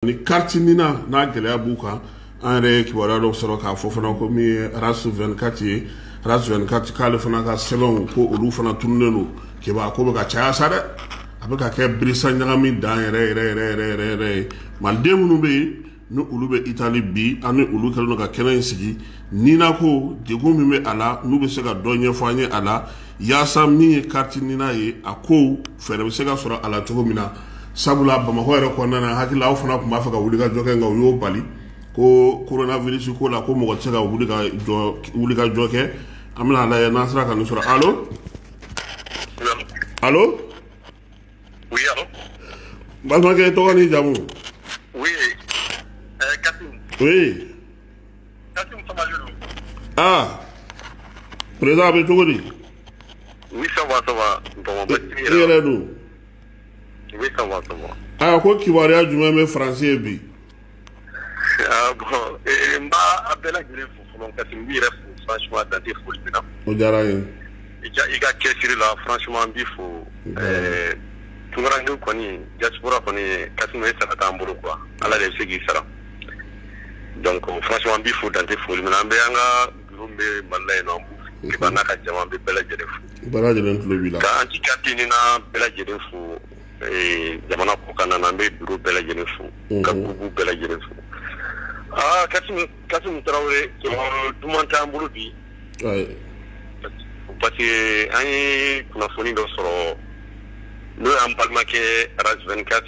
ni kariti nina n'a gɛlɛya b'u kan an yɛrɛ ye kibaruya dɔw sɔrɔ k'a fɔ fana ko min ye rasu 24 ye rasu 24 k'ale fana ka sɛbɛnw ko olu fana tununnen don kebaa ko bɛ ka caya sa dɛ a bɛ ka kɛ birisa ɲagami dan yɛrɛ yɛrɛ yɛrɛ yɛrɛ yɛrɛ yɛrɛ ye maliden minnu bɛ yen ni olu bɛ itali bi an ni olu kɛlen don ka kɛnɛ in sigi nina ko degun min bɛ a la n'u bɛ se ka dɔ ɲɛfɔ an ye a la yaasa min ye kariti nina ye a ko fɛɛrɛ bɛ se ka sɔrɔ a la cogo min na sabula bamakɔ yɛrɛ kɔnɔna na hakili la aw fana tun b'a fɛ ka wuli ka jɔ kɛ nka u y'o bali ko coronavirus ko la ko mɔgɔ tɛ se ka wuli ka jɔ kɛ an bɛna a lajɛ n'an sera ka nin sɔrɔ alo alo balimakɛ tɔgɔ ni jamu oui kasimu aa président a bɛ cogo di i yɛrɛ dun aa ko kibaruya jumɛn bɛ faransi bi bon n b'a a bɛɛ lajɛlen fo fɔlɔ kasimu n b'i yɛrɛ fo franchement dan tɛ foli min na o diyara n ye i ka cɛsiri la franchement n b'i fo ɛɛ tunkarankew kɔni diaspora kɔni kasimu e sara t'an bolo quoi ala de bɛ se k'i sara donc franchement n b'i fo dan tɛ foli min na an bɛ an ka Bureau min bɛ Mali la yen nɔ, Liban n'a ka jama, n bɛ bɛɛ lajɛlen fo. Bɛɛ lajɛlen tulo b'i la. Ka Anti Carte NINA bɛɛ lajɛlen fo, ee jamana kɔkanna na, n bɛ bureau bɛɛ lajɛlen fo, unhun, ka groupe bɛɛ lajɛlen fo. Aa Kasimu, Kasimu Tarawele, jɔyɔrɔ duman t'an bolo bi. Ayi. Parce que an ye kunnafoni dɔ sɔrɔ, n'o y'an balimakɛ Ras 24.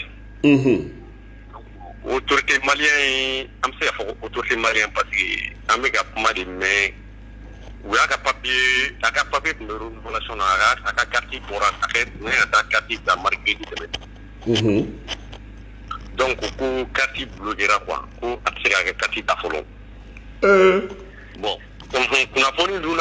Unhun! otote maliya ye an bɛ se fɔ otote mali pa an bɛ ka kuma de mɛn u y'a ka papi a ka papi tun bɛsɔn a ka kati bɔra ne ka taa kati da mari tɛmɛ dɔn ko ko kati bolo jɛra kuwa ko a bɛ se ka kɛ kati da fɔlɔ bɔn kunnafoni dun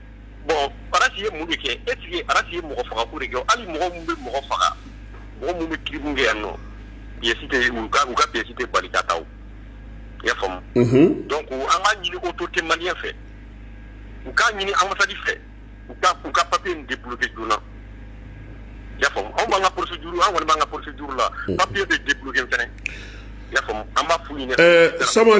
bon arasi ye mun de kɛ est-ce que arasi ye mɔgɔ fagako de kɛ hali mɔgɔ minnu bɛ mɔgɔ faga mɔgɔ minnu bɛ crime kɛ yan nɔ pièce tɛ u ka u ka pièce tɛ bali ka taa i y'a faamu donc an b'a ɲini autorité malien fɛ u k'a ɲini ambassade fɛ u ka u ka papier in débloqué joona y'a faamu anw b'an ka procédure an kɔni b'an ka procédure la papier bɛ débloqué fana y'a faamu an b'a f'u ɲɛna sama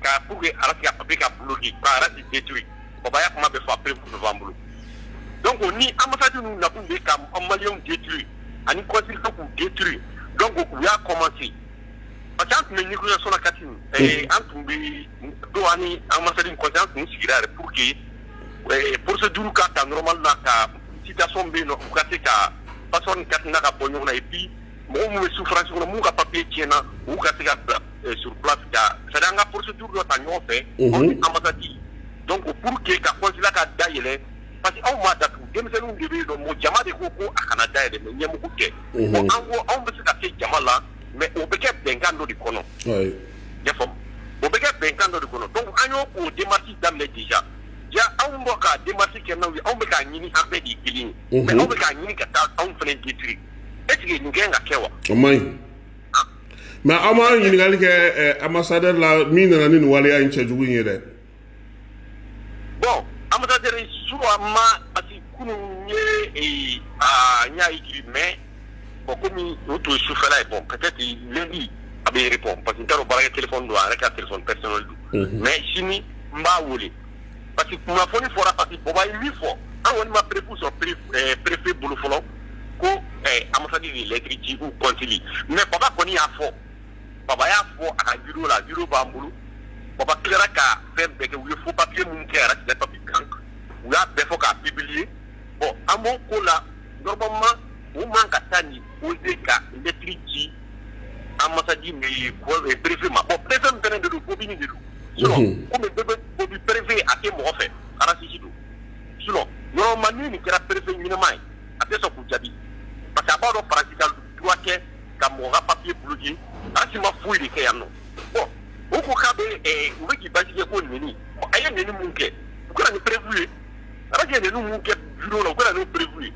k'a pour que RAS ka papier ka bloquer ka RAS détruire Baba y'a kuma bɛɛ fɔ a preuve bɛɛ b'an bolo donc ni ambassade ninnu nakun de ye ka maliyɛnw détruire ani consuls k'u détruire donc u y'a commencer parce que an tun bɛ négociation na Kassim ɛɛ an tun bɛ don an ni ambassade ni consul an tun sigira yɛrɛ pour que ɛɛ procédure ka ta normal la ka situation bɛ yen nɔ u ka se ka passeport ni carte NINA ka bɔ ɲɔgɔn na et puis mɔgɔ minnu bɛ souffrance kɔnɔ minnu ka papier tiɲɛna u ka se ka bila ka procédure dɔ ta ɲɔgɔn fɛ an ni ambassade donc pour que ka consulat ka da yɛlɛ parce que anw m'a datugu denmisɛnninw de bɛ yen nɔ mɔgɔ jama de ko ko a kana da yɛlɛ mais ɲɛmɔgɔ tɛ an ko anw bɛ se ka se jama la mais o bɛ kɛ bɛnkan dɔ de kɔnɔ i y'a faamu o bɛ kɛ bɛnkan dɔ de kɔnɔ donc an y'o ko démarche daminɛ déjà ja anw bɔ ka démarche kɛ n'aw ye anw bɛ k'a ɲini an bɛɛ de ye kelen ye mais aw bɛ k'a ɲini ka taa anw fana détruire est ce que nin ka kan ka kɛ wa mais aw ma ɲininkali kɛ eh, ambassadeur la min nana ni nin waleya in cɛjugu in ye dɛ bon ambassadeur suwa ma parce que kunun ye eh, ah, n y'a écrit mais bon comme o tun ye sufɛla ye bon peut être lundi a bɛ répondre parce que n t'a dɔn baarakɛ téléphone don a yɛrɛ ka téléphone personnel don mais sini n b'a wele parce que kunnafoni fɔra parce que baba ye min fɔ an kɔni ma preuve sɔrɔ préfet eh, bolo fɔlɔ ko eh, ambassade de lettre ci ou consul mais baba kɔni y'a fɔ baba y'a fɔ a ka vidéo la vidéo b'an bolo baba tilara ka fɛn bɛɛ kɛ u ye faux papier minnu kɛ RAS ka papier kan u y'a bɛɛ fɔ k'a publier bon an b'o ko la normalement u man ka taa nin oser ka lettre ci Anji bierefin ma bɔn pe don bɛ perefin a tɛ mɔgɔ fɛ alafin don su ma min nin kɛra perefefe ɲɛnama ye a bɛ sɔn k'u jaabi pa que a b'a dɔn paki kɛ ka mɔgɔ ka papi buruki alaki ma foyi de kɛ yan nɔ bɔn u ko k'a bɛ u bɛ baji ye ko nin a ye nin min kɛ u kɛra nin perefu ye ala ye nin min kɛ la u kɛra nin perefu ye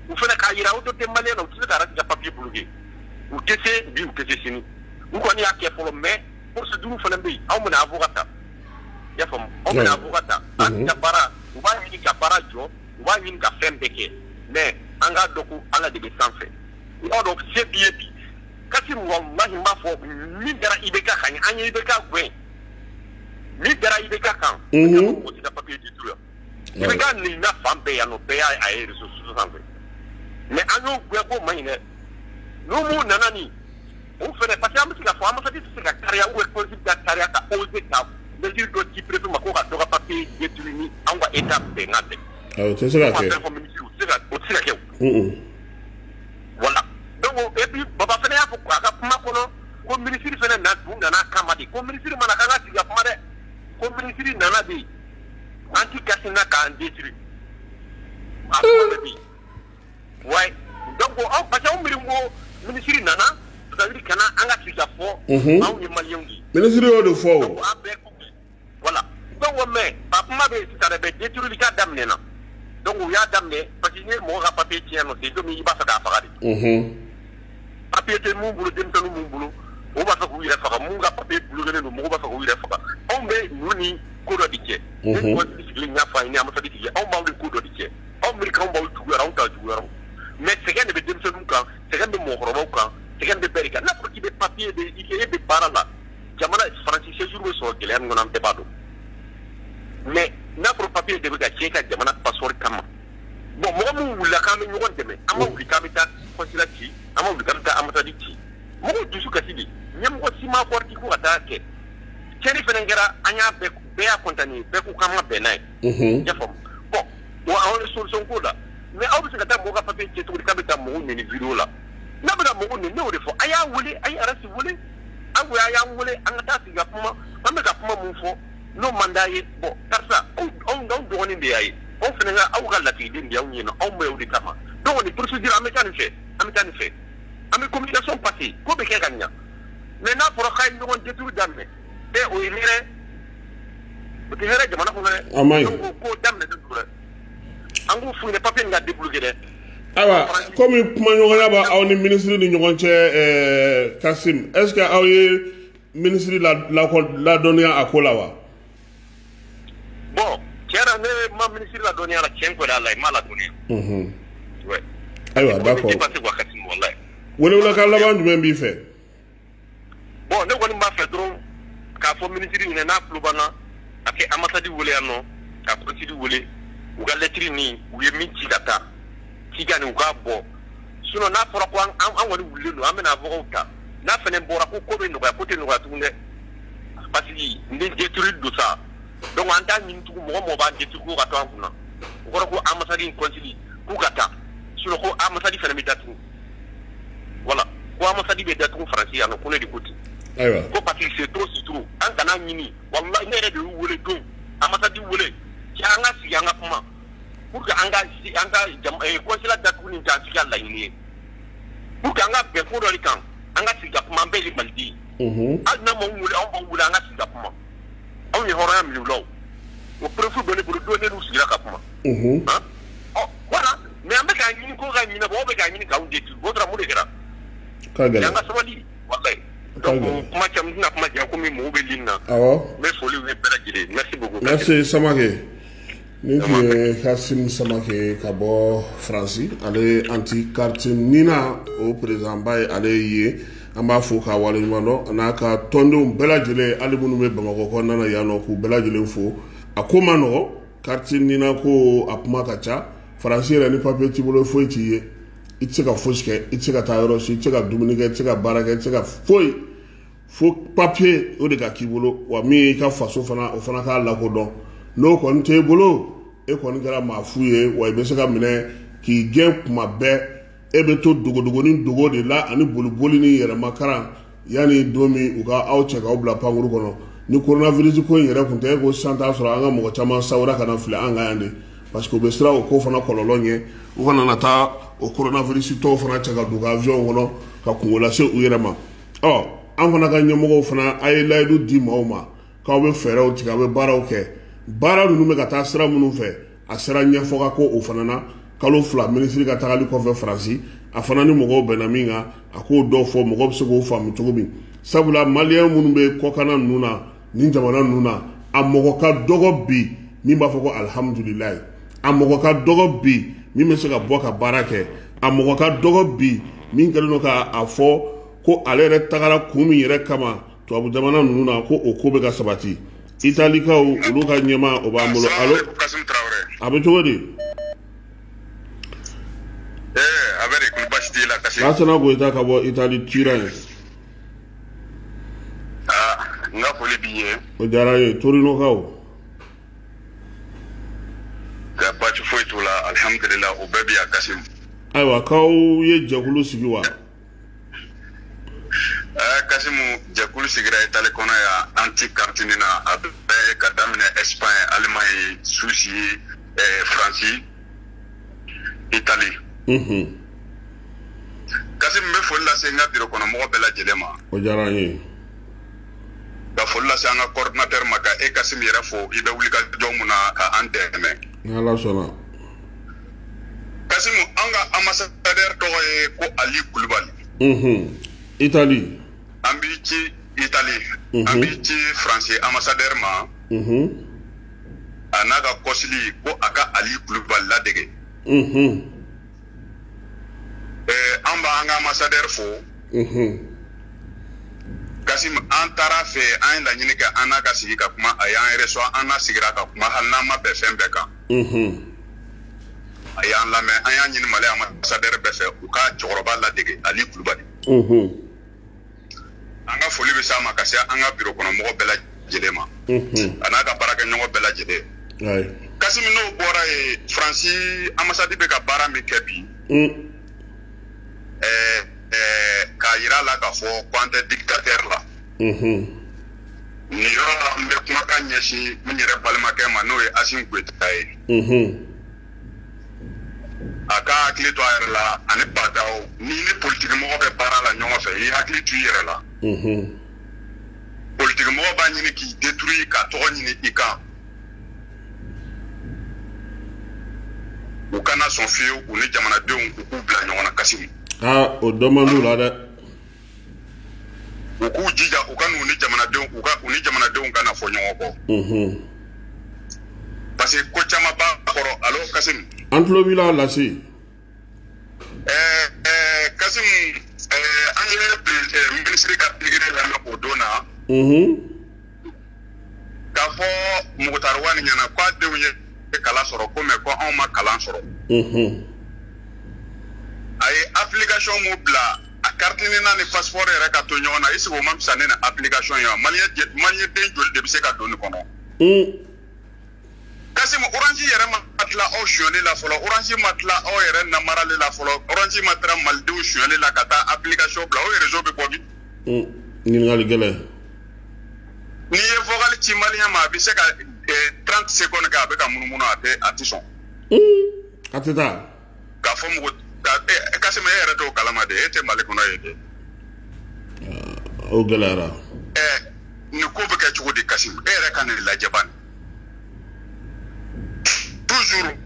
u fana k'a jira u tɛ den mali la u tɛ se ka papi buruki u tɛ se bi u tɛ se sini u kɔni y'a kɛ fɔlɔ mais procédure fana bɛ yen anw bɛna avocat ta i y'a faamu anw bɛna avocat ta an ka baara u b'a ɲini ka baara jɔ u b'a ɲini ka fɛn bɛɛ kɛ mais an k'a dɔn ko ala de bɛ sanfɛ i b'a dɔn se b'i ye bi Kassim walahi n b'a fɔ min dara IBK kan an ye IBK gɛn min dara IBK kan mɔgɔ tɛ se ka papier détruire IBK nin na fan bɛɛ yan nɔ, bɛɛ y'a ye réseaux sociaux sanfɛ. Mais an y'o gɛn k'o man ɲi dɛ. N'u m'u nana ni o fana parce que an bɛ se k'a fɔ ambassadeur tɛ se ka kariya ou consul ka kariya ka oser ka mesure dɔ ci préfet ma ko ka dɔ ka papier détruire ni anw ka Etat bɛnkan tɛ. Awɔ, o tɛ se ka kɛ. o tɛ se ka kɛ o. Mm-mm. Voilà. Donc, o- et puis, Baba fana y'a fɔ a ka kuma kɔnɔ ko minisiri fana tun nana a kama de ko minisiri ma na k'an ka sigi ka kuma dɛ ko minisiri nana de an ti kasi na k'an détruire a kuma bɛ bi ouais donc aw parce que aw miiri ko minisiri nana c'est à dire ka na an ka sigi k'a fɔ Unhun. anw ye maliyɛnw de ye minisiri y'o de fɔ o donc an bɛɛ kun voilà donc mais a kuma bɛ yen sisan dɛ mais détruire ka daminɛ na donc u y'a daminɛ parce que n'i ye mɔgɔ ka papier tiɲɛ nɔ c'est comme i b'a fɛ k'a faga de Unhun. papiye tɛ minnu bolo denmisɛnnin minnu bolo o b'a fɛ k'u yɛrɛ faga minnu ka papiye bulokelen don mɔgɔ b'a fɛ k'u yɛrɛ faga anw bɛ ninnu ni ko dɔ de cɛ sigilen y'a fɔ a ye ambassadeur tigi anw b'aw ni ko dɔ de cɛ aw miiri k'an b'aw juguya la anw t'aw juguya la mais sɛgɛn de bɛ denmisɛnninw kan sɛgɛn bɛ mɔgɔkɔrɔbaw kan sɛgɛn bɛ bɛɛ de kan n'a fɔra i bɛ papiye de i e bɛ baara la jamana faransi séjour bɛ sɔrɔ gɛlɛya min kɔnɔ an bɛɛ b'a dɔn mais n'a fɔra papiye de bɛ ka tiɲɛ ka jamana passeport kama bon mɔgɔ minnu wulila k'an bɛ ɲɔgɔn dɛmɛ an ma wuli k'an bɛ taa consulat ci an ma wuli k'an bɛ taa ambassade ci mɔgɔw dusu kasi de ɲɛmɔgɔ si ma kɔrɔti ko ka taa kɛ tiɲɛni fana kɛra an y'a bɛɛ bɛɛ y'a condamner bɛɛ ko k'an ma bɛn n'a ye i y'a faamu bon wa anw ye solution ko la mais aw bɛ se ka taa mɔgɔ ka papiye tiɲɛ cogo di k'a bɛ taa mɔgɔw nɛni video la n'a bɛ taa mɔgɔw nɛni ne y'o de fɔ a y'a wele a ye arasi wele an ko a y'an wele an ka taa sigi ka kuma an bɛ ka kuma mun fɔ n'o man d'a ye bon karisa anw dɔgɔnin de y'a ye aw fana ka aw ka lasigiden de anw ɲɛna anw bɛ o de kama donc nin procédure an bɛ taa nin fɛ an bɛ taa nin fɛ an bɛ communication passer ko bɛ kɛ ka ɲa mais n'a fɔra k'a ye ɲɔgɔn détruire daminɛ ɛ o ye hɛrɛ o tɛ hɛrɛ jamana kɔnɔ dɛ a man ɲi donc o ko daminɛ de don dɛ an k'u f'u ɲɛna papier nin ka débloquer dɛ ayiwa komi kumaɲɔgɔnya b'aw ni minisiri ni ɲɔgɔn cɛ ɛɛ kasim est ce que aw ye Minisiri ladɔnniya a ko la wa bon tiɲɛ na ne ma minisiri ladɔnniya la tiɲɛ ko la i m'a ladɔnniya ayiwa d'accord welewelekan laban jumɛn b'i fɛ bon ne kɔni b'a fɛ dɔrɔn k'a fɔ minisiri ɲɛna n'a tulo b'an na a ka ambassade weele yan nɔ ka consul weele u ka lɛtiri nin u ye min ci ka taa cikan nin u k'a bɔ sinon n'a fɔra ko an kɔni wulilen don an bɛna avocat ta n'a fana bɔra ko ko bɛ nɔgɔya ko tɛ nɔgɔya tugun dɛ parce que n bɛ détruire don sa donc an t'a ɲini tugun mɔgɔ mɔgɔ b'an détruire ko ka to an kunna o kɔrɔ ko ambassade ni consul k'u ka taa sinon ko ambassade fana bɛ datugu voilà ko ambassade bɛ datugu France yan nɔ ko ne de ko ten ayiwa ko parce que c'est trop c'est trop an kan'a ɲini walahi ne yɛrɛ de y'u wele don ambassade wele cɛ an ka sigi an ka kuma pour que an ka si- an ka jam- eh, consulat datuguni tɛ an si ka laɲini ye U ka an ka bɛn kodɔn kan an ka sigi kuma an bɛɛ maliden hali ma wuli an ma wuli an ka sigi kuma anw ye hɔrɔnya minlaw o porofu dɔ bolo don n sigira ka kuma ɔ wala mɛ an bɛ ka ɲini ko ka ɲini bɛ ka ɲini k'aw de duuru bɔdamu de kɛra an ka sabali kuma tɛna kuma jan ko min mɔgɔw bɛ na n bɛ foli bɛ bɛɛ lajɛlen sama Nin tun ye Kassim Samake ye ka bɔ France ale ye anti carte Nina o président ba ye ale ye yen. An b'a fo k'a waleɲumandɔn a n'a ka tɔndenw bɛɛ lajɛlen hali minnu bɛ Bamakɔ kɔnɔna na yan nɔ k'u bɛɛ lajɛlen fo. A ko man nɔgɔn carte Nina ko a kuma ka ca France yɛrɛ ni papier t'i bolo foyi t'i ye. I tɛ se ka fosi kɛ, i tɛ se ka taa yɔrɔ si, i tɛ se ka dumuni kɛ, i tɛ se ka baara kɛ, i tɛ se ka foyi. fo papier o de ka k'i bolo wa min y'i ka faso fana o fana k'a lakodɔn n'o kɔni t'e bolo e kɔni kɛra maa fu ye wa i bɛ se ka minɛ k'i gɛn kuma bɛɛ e bɛ to dogodogoni dogo de la ani boliboli ni yɛrɛmakaran yanni don min u ka aw cɛ k'aw bila pankuru kɔnɔ ni coronavirus ko in yɛrɛ tun tɛ i ko sisan t'a sɔrɔ an ka mɔgɔ caman sawura ka na fili an ka yan de parce que u bɛ siran o ko fana kɔlɔlɔ ɲɛ u kana na taa o coronavirus tɔw fana cɛ ka don u ka avion kɔnɔ ka kunko lase u yɛrɛ ma ɔ an fana ka ɲɛmɔgɔw fana a ye layidu di maaw ma k'aw bɛ fɛɛrɛw tigɛ aw bɛ baaraw kɛ baara ninnu bɛ ka taa sira minnu fɛ a sera ɲɛfɔ ka ko o fana na kalo fila minisiri ka tagali kɔfɛ faransi a fana ni mɔgɔw bɛnna min kan a k'o dɔw fɔ mɔgɔ bɛ se k'o faamu cogo min sabula maliyɛn minnu bɛ kɔkanna ninnu na ni jamana ninnu na a mɔgɔ ka dɔgɔ bi min b'a fɔ ko alihamdulilayi a mɔgɔ ka dɔgɔ bi min bɛ se ka bɔ ka baara kɛ a mɔgɔ ka dɔgɔ bi min kɛlen don k'a a fɔ ko ale yɛrɛ tagara kun min yɛrɛ kama tubabu jamana ninnu na ko o ko bɛ ka sabati italikaw olu ka ɲɛmaa o b'an bolo alo a bɛ cogo di a bɛ di ko baasi t'i la kasimu lasana goyita ka bɔ itali Turin ye N ka foli b'i ye o diyara n ye torinokaw ka baasi foyi t'u la alihamdulila u bɛɛ bɛ yan kasimu ayiwa k'aw ye jɛkulu sigi wa ɛɛ kasimu jɛkulu sigira itali kɔnɔ yan anti carte Nina a bɛɛ k'a daminɛ Espagne Allemagne Suisse faransi itali kasimu n bɛ foli lase n ka biro kɔnɔ mɔgɔ bɛɛ lajɛlen ma o diyara n ye ka foli lase an ka kɔrɔdinatɛri ma ka e kasimu yɛrɛ fo i bɛ wulikajɔ mun na ka an dɛmɛ ni ala sɔnna kasimu an ka anbasadɛri tɔgɔ ye ko ali kulubali itali an b'i ci itali an b'i ci faransi anbasadɛri ma a n'a ka kɔsili ko a ka ali kulubali ladege mhm. eh, an b'an ka ambassadeur fo mhm. kasimu an taara a fɛ an ye laɲini kɛ an n'a ka sigi ka kuma a y'an reçoit an n'a sigira ka kuma hali n'an ma bɛn fɛn bɛɛ kan mhm. a y'an lamɛn an y'a ɲini mali ambassadeur bɛɛ fɛ u ka cɛkɔrɔba ladege ali kulubali an ka foli bɛ s'a ma ka se an ka biro kɔnɔ mɔgɔ bɛɛ lajɛlen ma a n'a ka baarakɛɲɔgɔn bɛɛ lajɛlen kasimu n'o bɔra yen faransi anbasadi bɛ ka baara min kɛ bi k'a yira a la k'a fɔ ko an tɛ dikitatɛri la nin yɔrɔ la n bɛ kumakan ɲɛsin n yɛrɛ balimakɛ ma n'o ye asimi goyita ye a ka hakili to a yɛrɛ la ani ba ndaw ni ni politikimɔgɔ bɛ baara la ɲɔgɔn fɛ i hakili to i yɛrɛ la politikimɔgɔ b'a ɲini k'i détruire ka tɔgɔ ɲini i kan u kana sɔn fiyewu u ni jamanadenw u k'u bila ɲɔgɔn na kasimu ah, o dɔ man d'u la dɛ u k'u jija u kan'u ni jamanadenw u ka u ni jamanadenw kana fɔ ɲɔgɔn kɔ unhun parce que ko caman b'a kɔrɔ alo kasimu an tulo b'i la lasi ɛɛ ɛɛ kasimu ɛɛ an ye eh, minisiri ka pikiri lamɛn o don na unhun k'a fɔ mukutari wani ɲɛ na ko a denw ye kalan sɔrɔ ko mais ko anw ma kalan sɔrɔ a ye application mun bila a carte nina ni passeport yɛrɛ ka to ɲɔgɔn na est-ce que o man fisa ni nin application ye wa maliyɛn den joli de bɛ se ka don nin kɔnɔ kasimu orange yɛrɛ ma tila aw sonyali la fɔlɔ orange ma tila aw yɛrɛ namarali la fɔlɔ orange ma tila malidenw sonyali la ka taa application bila o réseau bɛ bɔ bi ɲininkali gɛlɛn n'i ye vocal ci maliyɛn ma a bɛ se ka 30 secondes kɛ a bɛ ka munumunu a tɛ a tɛ sɔn. a tɛ taa. k'a fɔ mɔgɔ Kasimi e yɛrɛ t'o kalama de e tɛ Mali kɔnɔ yen de. o gɛlɛyara. ɛɛ nin ko bɛ kɛ cogo di Kasimi e yɛrɛ ka nin lajɛ bani toujours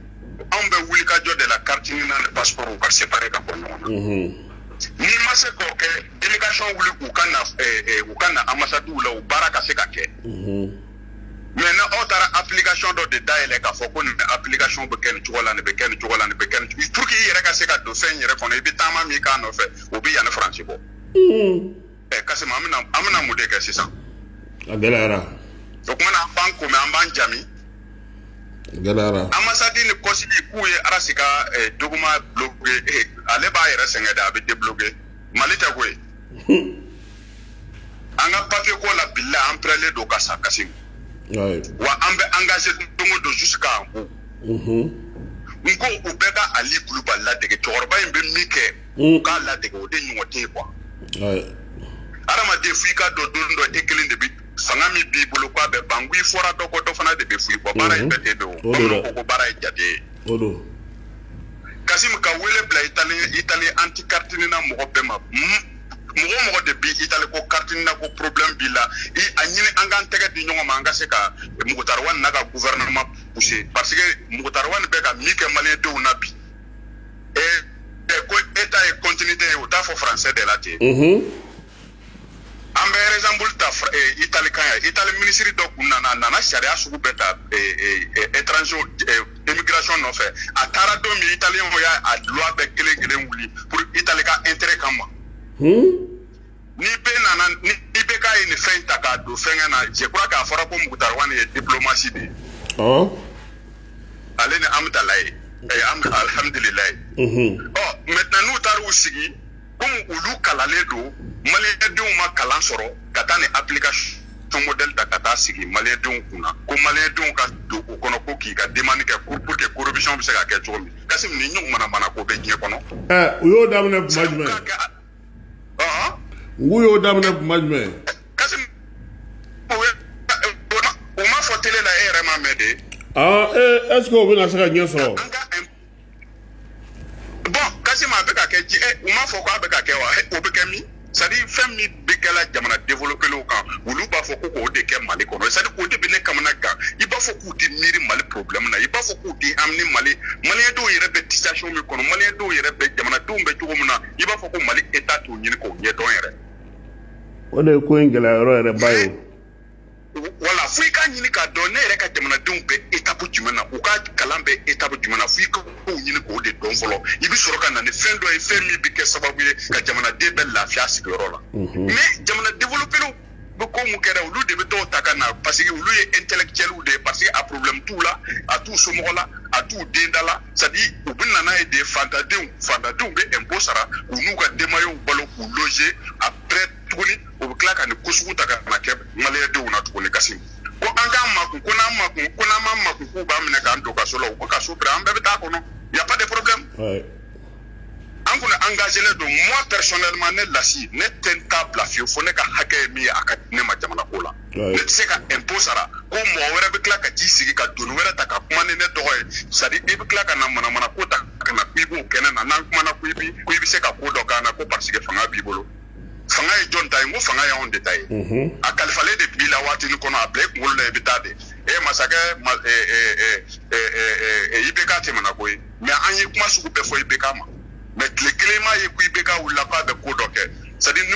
anw bɛ wulikajɔ de la carte NINA ni passeport u ka séparer ka bɔ ɲɔgɔn na. n'i ma se k'o kɛ délégation wuli u ka na eh, eh, u ka na ambassadiw la u baara ka se ka kɛ maintenant aw taara application dɔ de dayɛlɛ k'a fɔ ko nin application bɛ kɛ nin cogo la nin bɛ kɛ nin cogo la nin bɛ kɛ nin cogo pour que i yɛrɛ ka se ka don fɛn in yɛrɛ kɔnɔ i bɛ taama min k'a nɔfɛ o bɛ yan ni faransi bɔ ɛ kasim an bɛna an bɛna mun de kɛ sisan a gɛlɛyara o kuma na an b'an komi an b'an jami a gɛlɛyara ambassade ni consul k'u ye arasi ka eh, document bloqué eh, ale b'a yɛrɛ sɛgɛn de a bɛ débloquer mali état koyi an ka papier ko labila an pɛrɛlen don ka sa kasim wa an bɛ engagé don o don jusqu'à bout n ko u bɛɛ ka ali kulubali ladege cɛkɔrɔba in bɛ min kɛ hmm. u k'a ladege o de ɲɔgɔn tɛ yen quoi adamaden fo i k'a dɔn don dɔ e kelen de bi fanga min b'i bolo k'a bɛ ban ko i fɔra dɔ kɔ dɔ fana de bɛ fɔ i kɔ baara in bɛ ten de bamananw ko ko baara ye jate ye o don kasim ka wele bila itali itali anti carte nina mɔgɔ bɛɛ ma mɔgɔ mɔgɔ de bi itali ko carte nina ko problème b'i la i a ɲini an k'an tɛgɛ di ɲɔgɔn ma an ka se ka moctar ouane n'a ka gouvernement pousser parce que moctar ouane bɛ ka min kɛ maliyɛndenw na bi ko état est continuité u t'a fɔ français de la ten an bɛ exemple ta eh, Italie kan yan Italie minisiri dɔ kun nana a nana sariya sugu bɛɛ ta eh, eh, étranger immigration nɔfɛ a taara don min italien y'a a loi bɛɛ kelen kelen wuli pour Italie ka intérêt kama. Hmm? ni bɛɛ nana ni bɛɛ k'a ye nin fɛn in ta k'a don fɛnkɛ na je crois k'a fɔra ko moctar ouane ye diplomatie de ye ale ni amidalayi alhamdulilayi ɔ maintenant n'u taara u sigi komi olu kalannen don maliyɛndenw ma kalan sɔrɔ ka taa ni application modèle ta ka taa sigi maliyɛndenw kun na ko maliyɛndenw ka don o kɔnɔ ko k'i ka demande kɛ ko pour que corruption bɛ se ka kɛ cogo min kasim nin ɲɔgɔn manamanako bɛ diɲɛ kɔnɔ. ɛ u y'o daminɛ kuma jumɛn. u y'o daminɛ kuma jumɛn. kasim o ma fɔ télé la e yɛrɛ m'a mɛn de. aa ee est ce que o bɛna se ka ɲɛ sɔrɔ. bon kasim a bɛ ka kɛ di eh, u m'a fɔ k'a bɛ ka kɛ wa eh, o bɛ kɛ min c'est-à-dire fɛn min bɛ kɛla jamana développelenw kan olu b'a fɔ ko k'o de kɛ mali kɔnɔ c'est-à-dire o de bɛ ne kamana gan i b'a fɔ k'u tɛ miiri mali problème na i b'a fɔ k'u tɛ amini mali maliyɛndenw yɛrɛ bɛ situation min kɔnɔ maliyɛndenw yɛrɛ bɛ jamanadenw bɛ cogo min na i b'a fɔ ko mali état t'o ɲini k'o ɲɛdɔn yɛrɛ o de ye ko in gɛlɛya yɔrɔ yɛrɛ ba ye wala fo i k'a ɲini k'a dɔn ne yɛrɛ ka jamanadenw bɛ etapu jumɛn na u ka kalan bɛ etapu jumɛn na fo i ka kow ɲini k'o de dɔn fɔlɔ i bɛ sɔrɔ ka na ni fɛn dɔ ye fɛn min bɛ kɛ sababu ye ka jamanaden bɛɛ lafiya sigiyɔrɔ la mais jamana développéw bɛ ko mun kɛra olu de bɛ t'o ta ka na parce que olu ye intellectuels de ye parce que a problème t'u la a t'u somɔgɔ la a t'u den da la c'est à dire u bɛ na n'a ye de faantandenw faantandenw bɛ impôt sara k'u n'u ka denbayaw balo k'u loger après tuguni u bɛ tila ka nin ko sugu ta ka na kɛ maliyɛndenw na tuguni kasim ko an k'an makun ko n'an makun ko n'an ma makun k'u b'an minɛ k'an don kaso la u ko kaso bila an bɛɛ bɛ taa kɔnɔ y a pas de problème an kɔni engagelen don moi personnellement ne lasi ne tɛ n ta bila fiyewu fo ne ka hakɛ ye min ye a ka di ne ma jamana ko la ne tɛ se ka impôt sara ko mɔgɔ wɛrɛ bɛ tila ka t'i sigi ka doni wɛrɛ ta ka kuma ni ne tɔgɔ ye c'est à dire i bɛ tila ka na manamana ko ta ka na ko i b'o kɛ ne na n'an kumana ko i bi ko i bɛ se ka ko dɔ k'an na ko parce que fanga b'i bolo fanga ye jɔn ta ye n ko fanga y'anw de ta ye a kalifalen de b'i la waatini kɔnɔ a bila i kunkolo la i bɛ taa de e masakɛ IBK tɛmɛna ko ye mais an ye kuma sugu bɛɛ fɔ IBK ma mais tile kelen ma ye ko IBK wulila k'a bɛ ko dɔ kɛ c'est à dire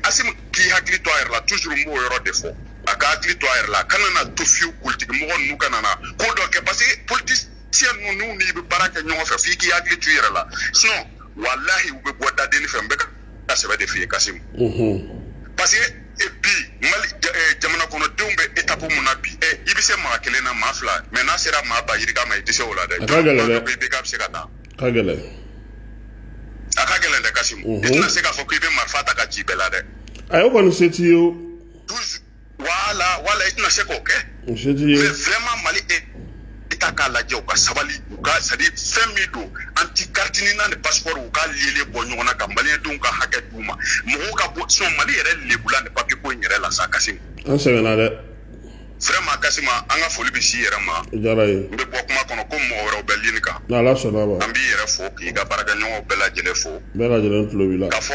asimi k'i hakili to a yɛrɛ la toujours n b'o yɔrɔ de fɔ a ka hakili to a yɛrɛ la kana n'a to fiyewu politiki mɔgɔ ninnu kana na ko dɔ kɛ parce que politicien ninnu n'i bɛ baara kɛ ɲɔgɔn fɛ f'i k'i hakili to i yɛrɛ la sinon walahi u b'i bɔ da dennin fɛ n bɛ ka ka sɛbɛ de f'i ye kasim parce que e bi mali eh, jamana kɔnɔdenw bɛ etapu mun na bi eh, i bɛ se maa kelen na maa fila mais n'a sera maa ba yirika ma i tɛ se o la dɛ bɛ ka se ka taa ka gɛlɛn a ka gɛlɛn dɛ kasim i tɛna se k'a fɔ k'i bɛ marifa ta ka ci bɛɛ la dɛ ayi o kɔni se t'i ye wala wala i tɛna se k'o kɛ mais vraiment mali état k'a lajɛ u ka sabali u ka c'est à dire fɛn min don anti carte nina ni passeport u ka le lien bɔ ɲɔgɔn na ka maliɲɛdenw ka hakɛ d'u ma mɔgɔw ka bɔ sinon mali yɛrɛ lebula ni papier ko in yɛrɛ la sa kasim an sɛgɛnna dɛ vraiment kasim an ka foli bɛ s'i yɛrɛ ma jara ye n bɛ bɔ kuma kɔnɔ ko mɔgɔ wɛrɛw bɛ lini kan n'ala sɔnn'a ma an b'i yɛrɛ fo k'i ka baarakɛɲɔgɔnw bɛɛ lajɛlen fo bɛɛ lajɛlen tulo b'i la ka fɔ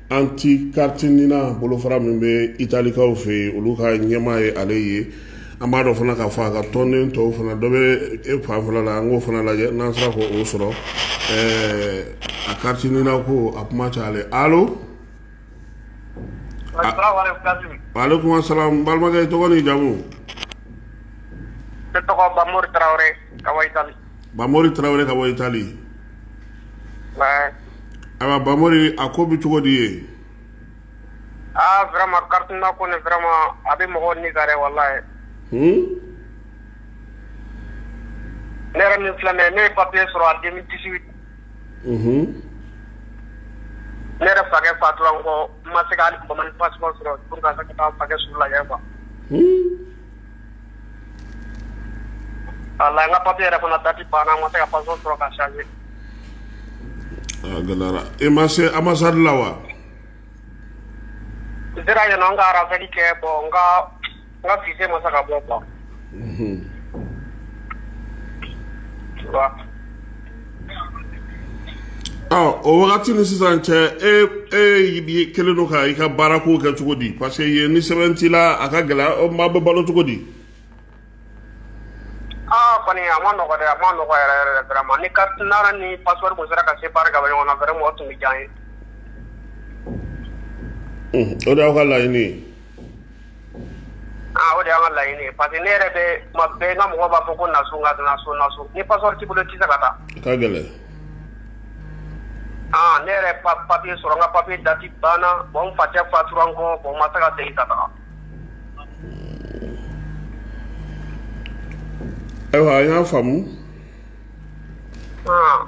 Anti carte nina bolofara min bɛ italikaw fɛ yen olu ka ɲɛmaa ye ale ye an b'a dɔ fana ka fɔ a ka tɔnden tɔw fana dɔ bɛ e fanfɛla la an k'o fana lajɛ n'an sera ka o sɔrɔ ɛɛ a carte nina ko a kuma ca alo waleykumu salamu balimakɛ i tɔgɔ n'i jamu n tɔgɔ bamori tarawele ka bɔ itali Ayiwa bamari a ko bɛ cogo di ye aama karima ko nema a bɛ mɔgɔ ni ka wala ye ne yɛrɛ min filɛ ne ye papi sɔrɔ a den kisi ne yɛrɛ fa fa dɔrɔn kɔ ma se ka sɔrɔ su la kuwa Ala n ka papier yɛrɛ fana dati banna n ma se ka passeport sɔrɔ k'a changer a gɛlɛyara i ma se ambassade la wa n sera yen nɔ n ka RAVEC kɛ bon n ka n ka fiche ma se ka bɔ ban o wagati ni sisan cɛ e e kelen don ka i ka baara ko kɛ cogo di parce que yen ni sɛbɛn t'i la a ka gɛlɛn maa bɛ balo cogo di aa kɔni a ma nɔgɔ dɛ a ma nɔgɔ yɛrɛ yɛrɛ vraiment ni carte NINA ni passeport tun sera ka séparer ka bɔ ɲɔgɔn na vraiment o tun bɛ diya an ye o de y'aw ka laɲini ye Aa o de y'an ka laɲini ye parce que ne yɛrɛ bɛ tuma bɛɛ n ka mɔgɔw b'a fɔ ko na so n ka na so na so ni passeport t'i bolo i tɛ se ka taa, a ka gɛlɛn, aa ne yɛrɛ ye papier sɔrɔ n ka papier date banna bon n facɛ fatura n kɔ bon n ma se ka segin ka taga, ayiwa an y'a faamu, ɔn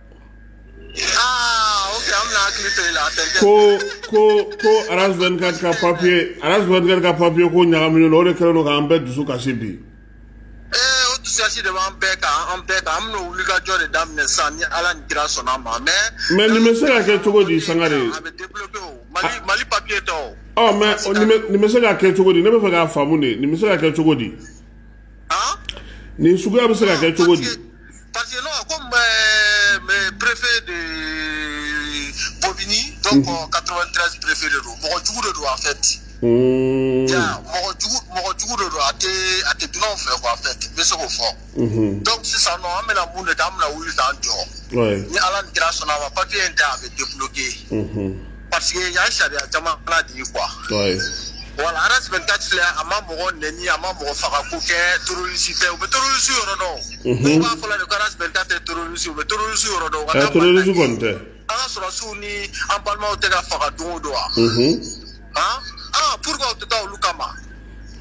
ko ko ko aras 24 ka papier aras 24 ka papier ko ɲagaminen don o de kɛlen don k'an bɛɛ dusu kasi bi eh, o dusukasi de b'an bɛɛ kan an bɛɛ kan an bɛna wulikajɔ de daminɛ sisan ni ala ni kira sɔnna a ma mais mais nin bɛ se ka kɛ cogo di sangare a bɛ débloquer o mali ah. mali papier tɛ o ɔ mais nin bɛ se ka kɛ cogo di ne b'a fɛ k'a faamu de nin bɛ se ka kɛ cogo di nin suguya bɛ se ka kɛ cogo di parce que non comme préfet de Bobigny donc 93 préfet de don mɔgɔ jugu de don en fait mɔgɔ jugu de don a a tɛ dunanw fɛ quoi en fait n bɛ se k'o fɔ donc sisan nɔ an bɛna mun de kɛ an bɛna wuli k'an jɔ ni ala ni kira sɔnna a ma papier in tɛ a bɛ débloquer Parce que yan sariya jamana de ye quoi. Ouais. Voilà, Aras 24 filɛ a ma mɔgɔ nɛni a ma mɔgɔ faga ko kɛ terroriste tɛ u bɛ terroriste yɔrɔ dɔn. Mhm. Dɔw b'a fɔ la de ko Aras 24 tɛ terroriste u bɛ terroriste yɔrɔ dɔn. u ka Ɛ taa terroriste Mali la. kɔni tɛ. An ka sɔrɔdasiw ni an balimaw tɛ ka faga don o don wa? Mhm. Han? Ah, pourquoi u tɛ taa olu kama?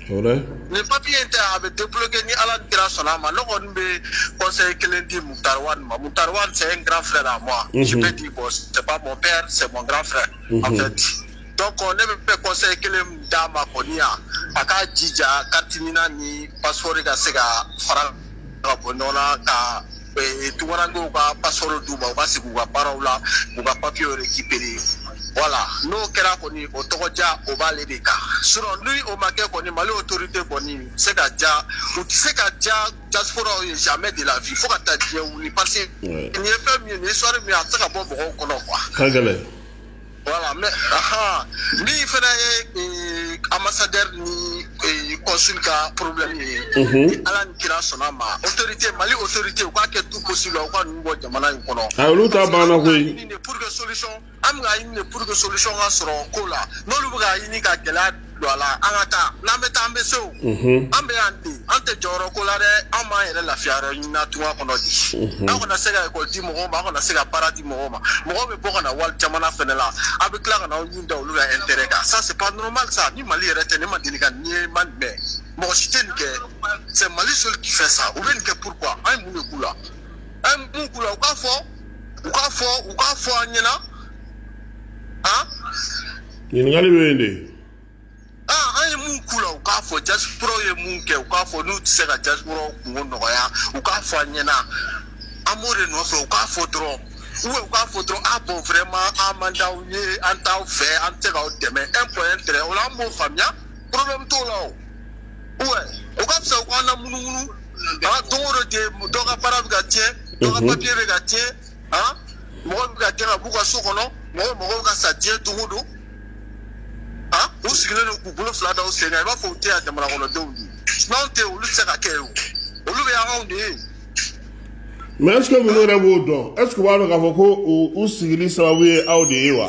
nin papier in tɛ a bɛ débloquer ni Ala ni kira sɔnna a ma ne kɔni bɛ conseil kelen di Moctar Ouane ma Moctar Ouane c'est un grand frère à moi je peux dire bon c'est pas mon père c'est mon grand frère en fait donc ne bɛ conseil kelen min d'a ma kɔni yan a k'a jija carte NINA ni passeport ka se ka fara ka bɔ ɲɔgɔn na ka eh, tunkarankew ka passeport d'u ma u ka sigi u ka baaraw la u ka papiyew récupérer voilà n'o kɛra kɔni o tɔgɔ diya o b'ale de kan sinon ni o ma kɛ kɔni mali autorité kɔni se ka diya u tɛ se ka diya diasporaw ye jamais de la vie fo ka taa diɲɛ wuli parce que nin ye fɛn min ye nin histoire min ye a tɛ se ka bɔ mɔgɔw kɔnɔ quoi ka gɛlɛn Voilà, mais aha, nin fana ye eh, ambassadeur ni eh, consul ka problème ye. Mhm. Ala ni kira sɔnna ma. Autorité Mali autorité u k'a kɛ tout possible u ka ninnu bɔ jamana in kɔnɔ. A olu ta banna koyi. Pour que solution an bɛ ka ɲini de pour que solution ka sɔrɔ ko la. N'olu bɛ ka ɲini ka gɛlɛya A la an ka taa n'an bɛ taa an bɛ se o an bɛ yan ten an tɛ jɔyɔrɔ ko la dɛ an b'an yɛrɛ lafiya yɔrɔ ɲini tunga kɔnɔ de an kana se ka ekɔli di mɔgɔ ma an kana se ka baara di mɔgɔ ma mɔgɔ bɛ bɔ ka na wali jamana fana la a bɛ tila ka na aw ɲin da olu ka intérêt kan ça c'est pas normal ça ni mali yɛrɛ tɛ ne ma deli ka nin ye n ma nin mɛn mɔgɔ si tɛ nin kɛ c'est mali seul qui fait ça u bɛ nin kɛ pourquoi an ye mun de k'u la an ye mun k'u la u k'a fɔ u k'a fɔ u k'a fɔ an ɲɛna ɲininkali bɛ yen de aa an ye mun k'u la u k'a fɔ diasporaw ye mun kɛ u k'a fɔ n'u tɛ se ka diasporaw kunko nɔgɔya u k'a fɔ an ɲɛna an b'o de nɔfɛ u k'a fɔ dɔrɔn ou bien u k'a fɔ dɔrɔn a bon vraiment an man d'aw ye an t'aw fɛ an tɛ se k'aw dɛmɛ un point un trait o la an b'o faamuya problème t'o la ouais o ka fisa u k'an lamunumunu aa don o don de dɔ ka baara bɛ ka tiɲɛ dɔ ka papier bɛ ka tiɲɛ han mɔgɔ bɛ ka gɛn ka b'u ka so kɔnɔ mɔgɔ mɔgɔw ka sa diɲɛ don o don han u sigilen don k'u bolo fila da u sen kan i b'a fɔ u tɛ yan jamana kɔnɔdenw ye n'anw tɛ yen olu tɛ se ka kɛ yen o olu bɛ yan anw de ye mais est-ce que ninnu yɛrɛ b'o dɔn est-ce que u b'a dɔn k'a fɔ ko u u sigili sababu ye anw de ye wa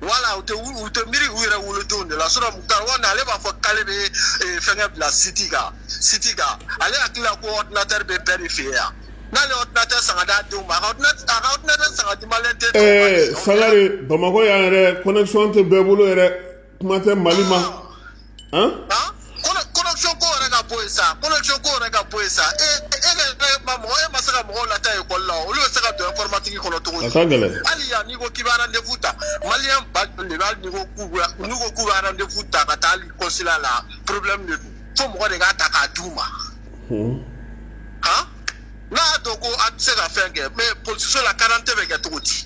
voilà u tɛ u tɛ miiri u yɛrɛ wolodenw de la sinon mukutari wani ale b'a fɔ k'ale bɛ eh, fɛngɛ bila site kan site kan ale hakili la ko ɔdinatɛri bɛ bɛɛ de fɛ yen yan n'ale ye ɔdinatɛri san k'a d'a denw ma a ka ɔdinatɛri san k'a di maliyɛn den tɔw ma ɛɛ dɛ. sangare bamakɔ yan yɛrɛ connexion tɛ bɛɛ bolo yɛrɛ kuma tɛ mali ma Hein? Hein? connexion ko yɛrɛ ka bɔ yen sa connexion ko yɛrɛ ka bɔ yen sa e e ka e ma mɔgɔ e ma se ka mɔgɔw lataa ekɔli la olu bɛ se ka don informatique kɔnɔ cogo di hali yan n'i ko k'i bɛ rendez-vous ta maliyɛn ba joli de bɛ hali n'i ko k'u bɛ n'u ko k'u bɛ rendez-vous ta ka taa hali consulat la problème de don fo mɔgɔ de k'a ta k'a d'u ma han n'a y'a dɔn ko a tɛ se ka fɛn kɛ mais polisiso la karante bɛ kɛ cogo di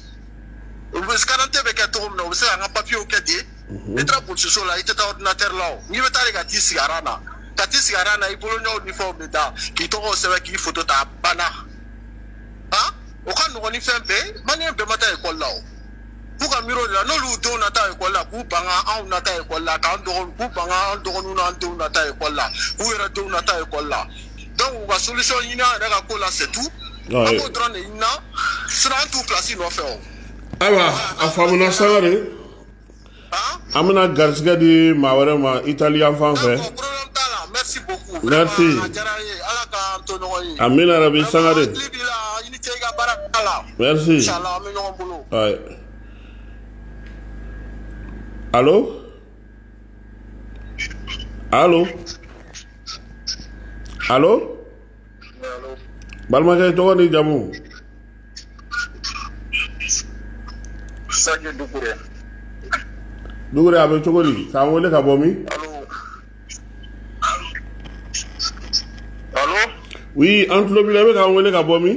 u bɛ karante bɛ kɛ cogo min na u bɛ se ka an ka papiyew kɛ ten n'i taara polisiso la i tɛ taa ordinateur la o n'i bɛ taa de ka t'i sigi aran na ka t'i sigi aran na i bolonɔw ni fɛnw bɛ da k'i tɔgɔw sɛbɛn k'i foto ta a banna han o ka nɔgɔn ni fɛn bɛɛ ye maliyɛn bɛɛ ma taa ekɔli la o k'u ka miiri o de la n'olu denw na taa ekɔli la k'u ban ka anw na taa ekɔli la k'an dɔgɔninw k'u ban ka an dɔgɔninw n'an denw na taa ekɔli la k'u yɛrɛ denw na taa ekɔli la donc u ka solution ɲini an yɛrɛ ka ko la c'est tout an b'o dɔrɔn de ɲini na sinon an t'u place nɔfɛ o ayiwa a faamuna sangare an bɛna garisɛgɛ di maa wɛrɛ ma Itali yan fan fɛ merci amiina yarabi sangare merci alo alo alo balimakɛ tɔgɔ ni jamu sake dukure dukure a bɛ cogo di k'an wele ka bɔ min alo oui an tulo b'i la i bɛ k'an wele ka bɔ min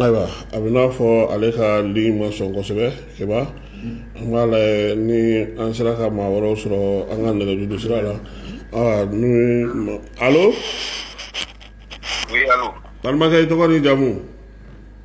ayiwa a bɛ n'a fɔ ale ka ligne ma sɔn kosɛbɛ keba an k'a lajɛ ni an sera ka maa wɛrɛw sɔrɔ an ka nɛgɛjuru sira la aa ni ma- alo Oui, allô balimakɛ i tɔgɔ ni jamu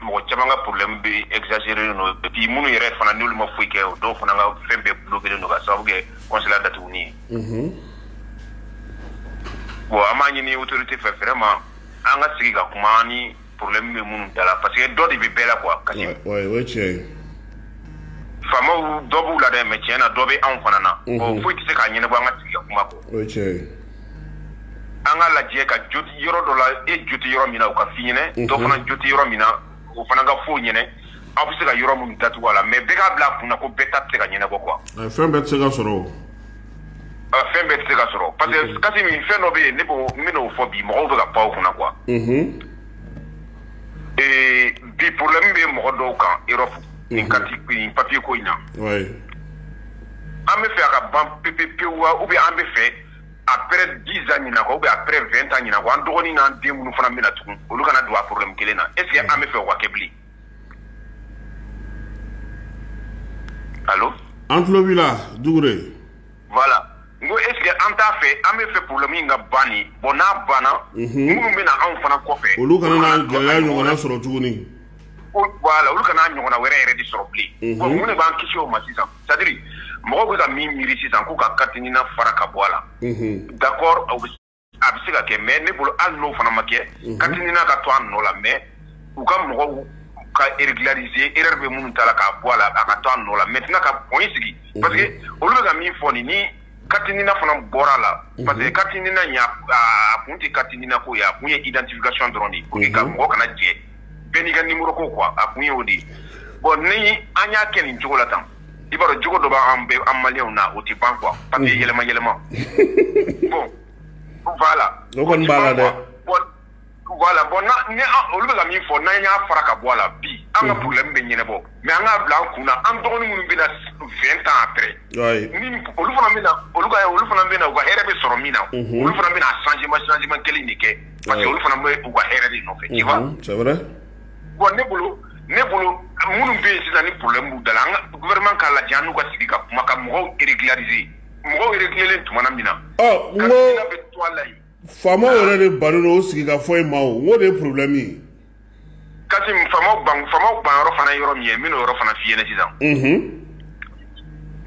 mɔgɔ caman ka problème bɛ exagérer no et puis minnu yɛrɛ fana n'olu ma foyi kɛ o dɔw fana ka fɛn bɛɛ bloquer no ka sababu kɛ consulat datuguni ye unhun bon an b'a ɲini autorité fɛ vraiment an ka sigi ka kuma an ni problème bɛ minnu da la parce que dɔ de bɛ bɛɛ la quoi kasimu o ye tiɲɛ ye faamaw dɔ b'u la dɛ mais tiɲɛ na dɔ bɛ anw fana na bon foyi tɛ se k'a ɲɛnabɔ an ka sigi ka kuma kɔ o ye tiɲɛ ye an ka lajɛ ka jo tɛ yɔrɔ dɔ la e jo tɛ yɔrɔ min na o ka f'i ɲɛ na dɔ mhm. fana jo tɛ yɔrɔ min na o fana ka f'o ɲɛ na aw bɛ se ka yɔrɔ minnu datugu a la mais bɛɛ k'a bila a kunna ko bɛɛ ta tɛ se ka ɲɛnabɔ quoi fɛn bɛɛ tɛ se ka sɔrɔ o fɛn bɛɛ tɛ se ka sɔrɔ parce que mhm. kasimu fɛn dɔ bɛ yen ne b'o n bɛn'o fɔ bi mɔgɔw bɛ ka pan o kunna quoi mhm. bi problème bɛ mɔgɔ dɔw kan Europe nin carte ni papier ko in na an bɛ fɛ a ka ban pepepewu wa ou bien an bɛ fɛ après 10 ans ɲinan kɔ ou bien après 20 ans ɲinan kɔ an dɔgɔnin n'an den minnu fana bɛ na tugun olu kana don a problème kelen na est ce que an bɛ fɛ o ka kɛ bilen allo an tulo b'i la dukure voilà n ko est ce que an t'a fɛ an bɛ fɛ problème in ka ban de bon n'a banna minnu bɛ na anw fana kɔfɛ olu kana na gɛlɛya ɲɔgɔnna sɔrɔ tuguni voilà olu kana ɲɔgɔnna wɛrɛ yɛrɛ de sɔrɔ bilen mun de b'an kisi o ma sisan c'est-à-dire mɔgɔw bɛ ka min miiri sisan k'u ka carte NINA fara ka bɔ a la d'accord a bɛ se ka kɛ mais ne bolo hali n'o fana ma kɛ carte NINA ka to a nɔ la mais u ka mɔgɔw ka régulariser erreur bɛ minnu ta la k'a bɔ a la a ka to a nɔ la maintenant ka point sigi parce que olu bɛ ka min fɔ nin Carte NINA fana bɔra a la parce que carte NINA kun tɛ carte NINA ko ye a kun ye identification dɔrɔn de pour que mɔgɔ kana jɛ bɛɛ n'i ka numéro ko quoi a kun ye o de ye bon ni an y'a kɛ nin cogo la tan i b'a dɔn jogo dɔ b'an bɛ an maliyɛnw na o tɛ ban quoi parce que yɛlɛma yɛlɛma bon voilà Voilà bon olu bɛ ka min fɔ n'an y'a fara ka bɔ a la bi an ka problème bɛ ɲɛnabɔ mais an k'a bila an kun na an dɔgɔnin minnu bɛ na vingt ans après olu fana bɛ olu olu fana bɛ na u ka hɛrɛ bɛ sɔrɔ min na olu fana bɛna changement changement kelen de kɛ parce que olu fana bɛ u ka hɛrɛ de nɔfɛ c'est vrai bon ne bolo ne bolo minnu bɛ yen sisan ni problème b'u da la an ka gouvernement k'a lajɛ an n'u ka sigi ka kuma ka mɔgɔw régulariser mɔgɔw réglélen tuma min na bɛ to la Faama yɛrɛ de ban o sigi ka fɔ ma o de ye porobi min ka faama ban yɔrɔ fana yɔrɔ min ye min yɔrɔ fana fi ɲɛna sisan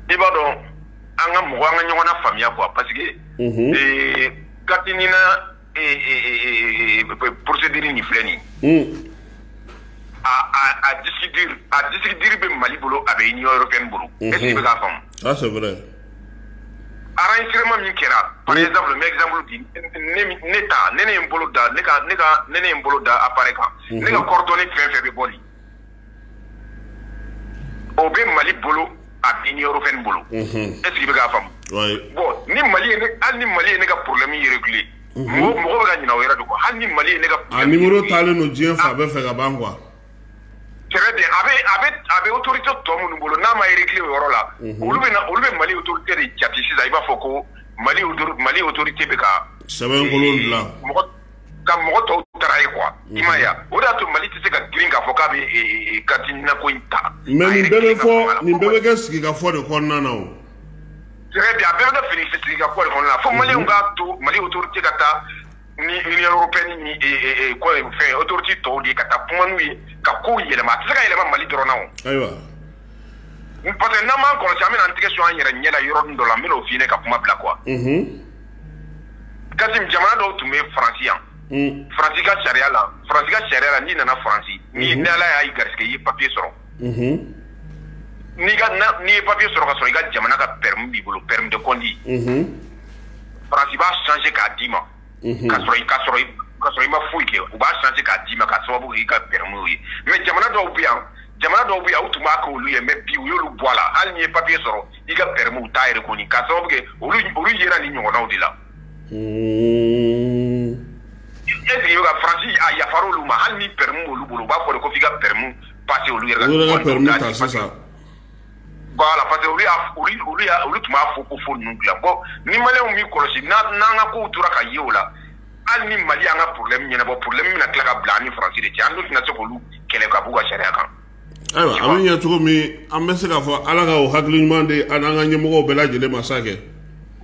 i b'a dɔn an ka mɔgɔ an ka ɲɔgɔn na faamuyaya kuwa pa que kati psidi nin filɛ nin a di bɛ mali bolo a bɛ ɲɔ yɔrɔ kɛ bolo bɛ' faamu Aracɛma min kɛra a ye daminɛ ne zanuru bi ne taa ne ne bolo da ne ne ne n bolo da a ba kan ne ka kɔrɔtɔ ni fɛn fɛ bɛ bɔ o bɛ mali bolo a bin ni yɔrɔ bolo e sigi bɛ k'a fa bɔn ni mali hali ni mali ye ne ka porolenmi yɛrɛ bilen mɔgɔ bɛ ka ɲ wɛrɛ don hali ni mali ye ne ka diɲɛ fa bɛɛ fɛ ka ban kuwa Très bien a bɛ a bɛ a bɛ autorité tɔ minnu bolo n'a ma réglé o yɔrɔ la. Unhun. Olu bɛ na olu bɛ Mali autorité de jati sisan i b'a fɔ ko Mali auto Mali autorité bɛ ka. Sɛbɛnkolon dilan. Mɔgɔ ka mɔgɔ tɔw trahir quoi. Unhun. I m'a ye wa? O de y'a to Mali tɛ se ka girin k'a fɔ k'a bɛ ee ee carte NINA ko in ta. Mais nin bɛɛ bɛ fɔ nin bɛɛ bɛ kɛ sigikafɔ de kɔnɔna na o. Très bien a bɛɛ bɛ kɛ fini sigikafɔ de kɔnɔna na. Unhun. Fo maliyɛnw k'a to Mali autorité ka taa ni Union européenne ni e, e, e, kɔ ye fɛn autorité tɔw de ye ka taa kuma n'u ye ka kow yɛlɛma a tɛ se ka yɛlɛma Mali dɔrɔn na o. Ayiwa. parce que n'an m'an kɔlɔsi an bɛna an tɛgɛ su an yɛrɛ ɲɛ la yɔrɔnin dɔ la n bɛn'o f'i ɲɛna ka kuma bila quoi. Unhun. Kasim jamana dɔw tun bɛ Faransi yan. Faransi ka sariya la Faransi ka sariya la n'i nana Faransi ni Ala y'a i garisigɛ i ye papier sɔrɔ. n'i ye papier sɔrɔ ka sɔrɔ i ka jamana ka permis b'i bolo permis de conduire faransi b'a changer k'a d'i ma ka sɔrɔ i ka sɔrɔ i ka sɔrɔ i ma foyi kɛ u b'a changer k'a d'i ma k'a sababu kɛ i ka permis ye mais jamana dɔw bɛ yan jamana dɔw bɛ yan u tun b'a kɛ olu ye mais bi u y'olu bɔ a la hali n'i ye papier sɔrɔ i ka permis u t'a reconnu k'a sababu kɛ olu olu yera ni ɲɔgɔnnaw de la e sigi ka faransi a yafara olu ma hali ni permis b'olu bolo u b'a fɔ ko f'i ka permis parce que olu yɛrɛ olu yɛrɛ ka permis ta sisan voilà parce que olu y'a olu olu y'a olu tun b'a fɔ ko fo ninnu dilan bon ni maliyɛnw m'i kɔlɔsi n'an ka kow tora ka ye o la hali ni mali y'an ka problème ɲɛnabɔ problème bɛna tila ka bila an ni faransi de cɛ an dun tɛna se k'olu kɛlɛ ka b'u ka sariya kan ayiwa a bɛ ɲɛ cogo min an bɛ se k'a fɔ ala ka o hakili ɲuman di an n'an ka ɲɛmɔgɔw bɛɛ lajɛlen ma sa kɛ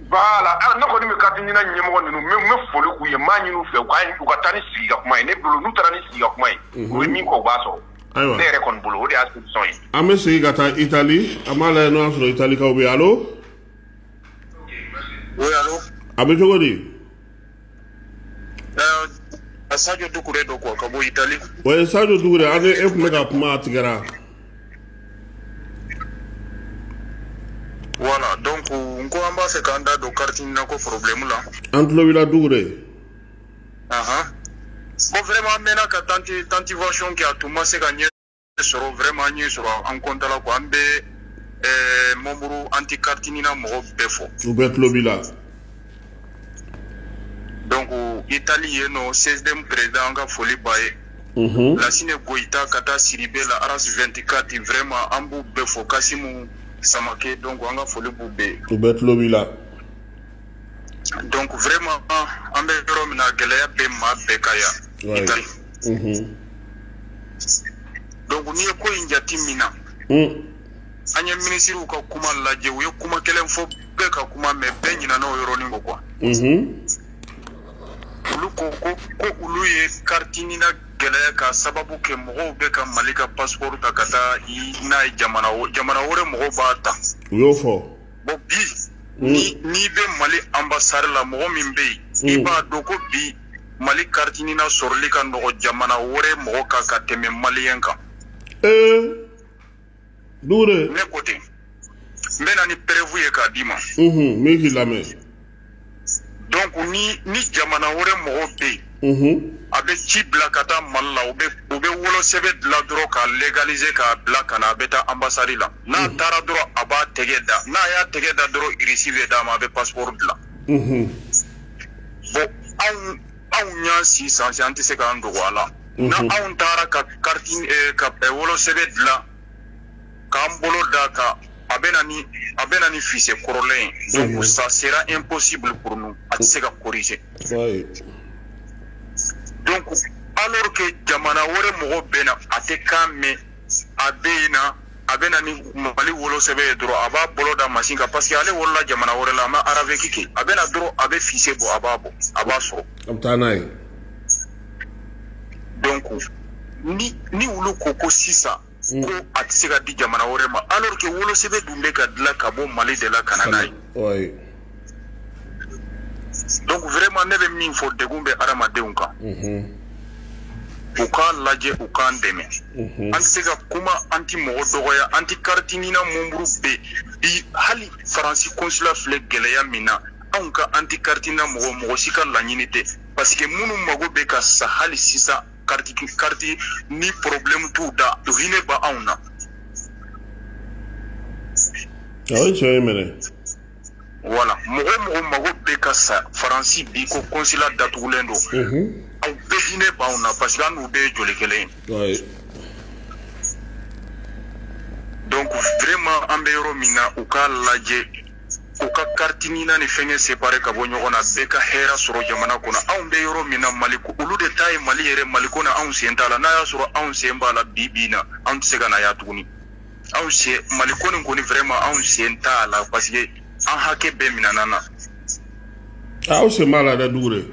voilà ne kɔni bɛ carte nina ɲɛmɔgɔ ninnu n bɛ foli k'u ye n b'a ɲini u fɛ u ka taa ni sigi ka kuma ye ne bolo n'u taara ni sigi ka kuma ye u bɛ min kɔ u b'a sɔrɔ ayiwa ne yɛrɛ kɔni bolo o de y'a solution ye an bɛ segin ka taa itali an b'a lajɛ n'o y'a sɔrɔ italikaw bɛ yen allô oui allô a bɛ cogo di ɛɛ sadio dukure don quoi ka bɔ itali oui sadio dukure an ni e tun bɛ ka kuma a tigɛra voilà donc n ko an b'a fɛ k'an da don carte nina ko problème la an tulo b'i la dukure bon vraiment an mɛnna ka tanti tantivation kɛ a tun ma se ka ɲɛ sɔrɔ vraiment an ɲɛ sɔrɔ an kɔntala quoi an bɛ ɛɛ membre anti carte nina mɔgɔw bɛɛ fo u bɛɛ tulo b'i la donc itali yen nɔ CSDM président an ka foli b'a ye Mhm. lasine goyita ka taa siribe la aras 24 vraiment an b'u bɛɛ fo kasimu samake donc an ka foli b'u bɛɛ ye u bɛɛ tulo b'i la donc vraiment an bɛ yɔrɔ min na gɛlɛya bɛ maa bɛɛ kan yan itali mhm. donc n'i ye ko in jateminɛ mm. an ye minisiriw ka kuma lajɛ u ye kuma kelen fɔ bɛɛ ka kuma mais bɛɛ ɲinana o yɔrɔnin kɔ quoi mhm. olu ko ko ko olu ye carte nina gɛlɛya k'a sababu kɛ mɔgɔw bɛ ka mali ka passeport ta ka taa n'a ye jamana jamana wɛrɛ mɔgɔw b'a ta u y'o fɔ bon bi hmm. ni n'i bɛ mali ambassade la mɔgɔ min bɛ yen hmm. i b'a dɔn ko bi mali carte nina sɔrɔli ka nɔgɔ jamana wɛrɛ mɔgɔ kan ka tɛmɛ maliyɛn kan ee dukure ne ko ten n bɛ na ni preuve ye k'a d'i ma n bɛ k'i lamɛn donc ni ni jamana wɛrɛ mɔgɔ bɛ yen mhm. a bɛ ci bila ka taa mali la u bɛ u bɛ wolosɛbɛ dilan dɔrɔn k'a légaliser k'a bila ka na a bɛ taa anbasadi la n'a mhm. taara dɔrɔn a b'a tɛgɛ da n'a y'a tɛgɛ da dɔrɔn reçu bɛ d'a ma a bɛ passeport dilan mhm. bon anw anw y'an recenser an tɛ se k'an dogo a la n'anw taara ka kariti eh, ka eh, wolosɛbɛ dilan k'an bolo da kan a bɛ na ni a bɛ na ni fiche kɔrɔlen ye donc ça sera impossible pour nous a tɛ se ka corriger donc alors que jamana wɛrɛ mɔgɔ bɛ na a tɛ kan mɛn a bɛ na a bɛ na ni mali wolosɛbɛ ye dɔrɔn a b'a bolo da masin kan parce que ale wolola jamana wɛrɛ la a ma araveki kɛ a bɛ na dɔrɔn a bɛ fiche bɔ a b'a bɔ a b'a sɔrɔ a bɛ taa n'a ye donc ni olu ko ko sisan ko a tɛ se ka di jamana wɛrɛ ma alors que wolosɛbɛ dun bɛ ka dilan ka bɔ Mali de la ka na n'a ye. donc vraiment ne bɛ min fɔ degun bɛ adamadenw kan. Mhm. u k'a lajɛ u k'an dɛmɛ mhm. an tɛ se ka kuma an tɛ mɔgɔ dɔgɔya anti kariti NINA mɔnburu bɛ bi hali faransi konsula filɛ gɛlɛya min na anw ka anti kariti NINA mɔgɔ mɔgɔ si ka laɲini tɛ parce que minnu mago bɛ ka sa hali sisan kariti kariti ni problème t'u da o hinɛ b'anw na. a ye tiɲɛ ye mɛnɛ. voilà mɔgɔ mɔgɔ mago bɛ ka sa faransi bi ko konsula datugulen don. aw bɛɛ hinɛ b'anw na parce que an n'u bɛɛ ye joli kelen ye. donc vraiment an bɛ yɔrɔ min na u k'a lajɛ. u ka kariti NINA ni fɛngɛ separe ka bɔ ɲɔgɔn na bɛɛ ka hɛra sɔrɔ jamana kɔnɔ anw bɛ yɔrɔ min na maliko olu de ta ye mali yɛrɛ mali ko na anw sen t'a la n'a y'a sɔrɔ anw sen b'a la bi bi na anw tɛ se ka na yan tuguni anw sen mali ko nin kɔni vraiment anw sen t'a la parce que an hakɛ bɛɛ minɛna an na aw sen b'a la dɛ Dukure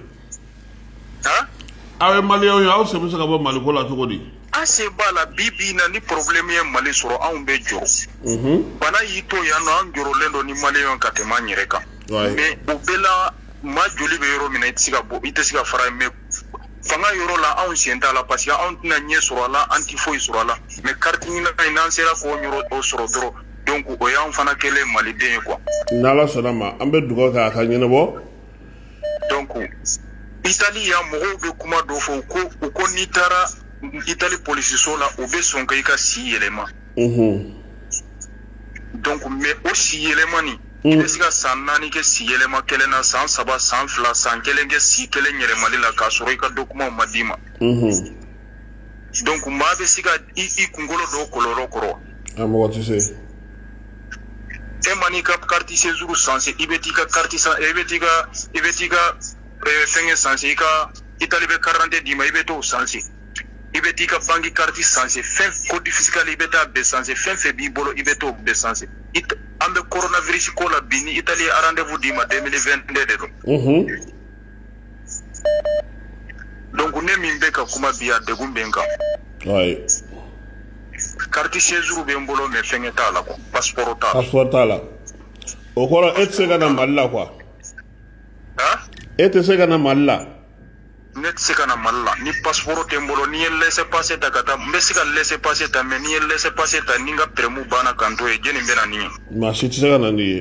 aw ye maliyɛnw ye aw sen bɛ se ka bɔ maliko la cogo di an sen b'a la bi bi na ni problème ye mali sɔrɔ anw bɛ jɔrɔ mhm. bana y'i to yan nɔ an jɔrɔlen don ni maliyɛnw ka tɛmɛ an yɛrɛ kan mais o bɛɛ la maa joli bɛ yɔrɔ min na i tɛ se ka bɔ i tɛ se ka fara mais fanga yɔrɔ la anw sen t'a la parce que anw tɛna ɲɛ sɔrɔ a la an tɛ foyi sɔrɔ a la mais carte NINA in n'an sera k'o yɔrɔ o sɔrɔ dɔrɔn donc o y'anw fana kɛlen maliden ye quoi n'ala sɔnna a ma an bɛ dugawu kɛ a ka ɲɛnabɔ donc itali yan mɔgɔw bɛ kuma dɔ fɔ ko u ko n'i taara itali polisiso la u bɛ sɔn ka i ka si yɛlɛma donc mais o si yɛlɛma nin i bɛ se ka san naani kɛ si yɛlɛma kelen na san saba san fila san kelen kɛ si kelen yɛlɛmali la k'a sɔrɔ i ka document ma d'i ma donc maa bɛ se ka i kunkolo don kɔlɔlɔ kɔrɔ e man'i ka carte séjour sanse i bɛ t'i ka carte san i bɛ t'i ka i bɛ t'i ka fɛngɛ sanse i ka Italie bɛ carte d'identité d'i ma i bɛ t'o sanse i bɛ t'i ka banki carte sanse fɛn code fiscal i bɛ taa bɛɛ sanse fɛn fɛn b'i bolo i bɛ t'o bɛɛ sanse an bɛ coronavirus ko la bi ni Italie ye rendez-vous d'i ma 2022 de don. donc ne min bɛ ka kuma bi a degun bɛ n kan carte séjour bɛ n bolo mais fɛngɛ t'a la quoi passeport t'a la passeport t'a la o kɔrɔ e tɛ se ka na mali la quoi e tɛ se ka na mali la ne tɛ se ka na mali la ni passeport tɛ n bolo ni n ye laisser passer ta ka taa n bɛ se ka laisser passer ta mais ni n ye laisser passer ta ni n ka peremu banna ka n to yen jɔni bɛ na n'i ye maa si tɛ se ka na n'i ye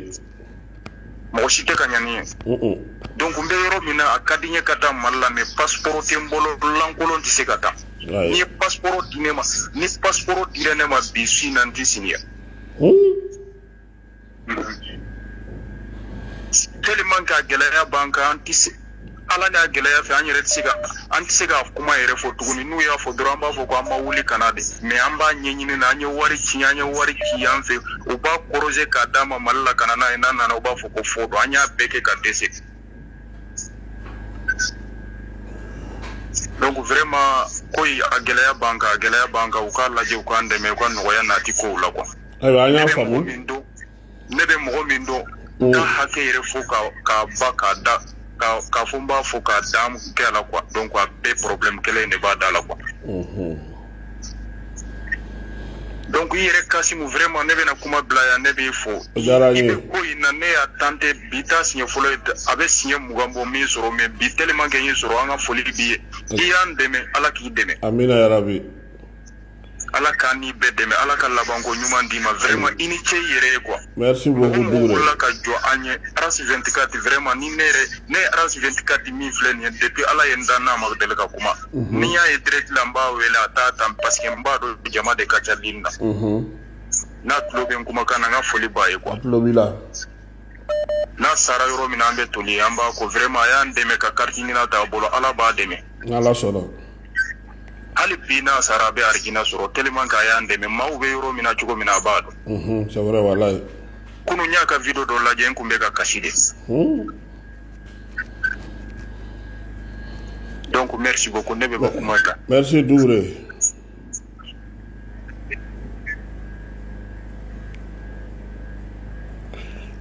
mɔgɔ si tɛ ka na n'i ye donc n bɛ yɔrɔ min na a ka di n ye ka taa mali la mais passeport tɛ n bolo lankolon tɛ se ka taa n'i ye passeport di ne ma ni passeport dira ne ma bi su in na n tɛ si yan tellement que a gɛlɛya b'an kan an tɛ se a la n'a gɛlɛya fɛ an yɛrɛ tɛ se ka an tɛ se ka kuma yɛrɛ fɔ tuguni n'u y'a fɔ dɔrɔn an b'a fɔ ko an ma wuli ka na de mais an b'a ɲɛɲini na an ye wari ci an ye wari ci yan fɛ u b'a corriger k'a d'a ma mali la ka na n'a ye n'a nana u b'a fɔ ko faux don an y'a bɛɛ kɛ ka dɛsɛ donc vraiment ko in a gɛlɛya b'an kan a gɛlɛya b'an kan u k'a lajɛ u k'an dɛmɛ u ka nɔgɔya nati kow la quoi ayiwa an y'a faamu min don ne bɛ mɔgɔ min dɔn n ka hakɛ yɛrɛ fo ka ba k'a da ka fɔ n b'a fɔ k'a dan kɛ a la quoi donc a bɛɛ problème kelen in de b'a da la quoi donc i yɛrɛ kasimu vraiment ne bɛna kuma bila yan ne b'i fo O diyara n ye. i bɛ ko in na ne y'a tenter bi t'a siɲɛ fɔlɔ ye a bɛ siɲɛ mugan bɔ n m'i sɔrɔ mais bi tellement que n y'i sɔrɔ an ka foli b'i ye i y'an dɛmɛ ala k'i dɛmɛ amina yarabi Ala k'an ni bɛɛ dɛmɛ Ala ka laban ko ɲuman d'i ma vraiment i ni ce i yɛrɛ ye quoi merci beaucoup Dukure mɔgɔ mɔgɔ wulila ka jɔ an ye RAS 24 vraiment ni ne yɛrɛ ne ye RAS 24 min filɛ nin ye depuis Ala ye n da n n'a ma deli ka kuma mhm. ni n y'a ye direct la n b'a wele a t'a ta parce que n b'a dɔn jama de ka ca ligne na mhm. n'a tulo bɛ n kumakan na n ka foli b'a ye quoi a tulo b'i la n'a sara yɔrɔ min na an bɛ toli an b'a ko vraiment a y'an dɛmɛ ka carte ɲinan ta a bolo Ala b'a dɛmɛ n'Ala sɔnna hali bi n'a sara a bɛ arijinɛ sɔrɔ tellement qu'a y'an dɛmɛ maaw bɛ yɔrɔ min na cogo min na a b'a dɔn c'est vrai walayi kunun n y'a ka vidéo dɔ lajɛ n tun bɛ ka kasi de donc merci beaucoup ne bɛ bɔ kuma kan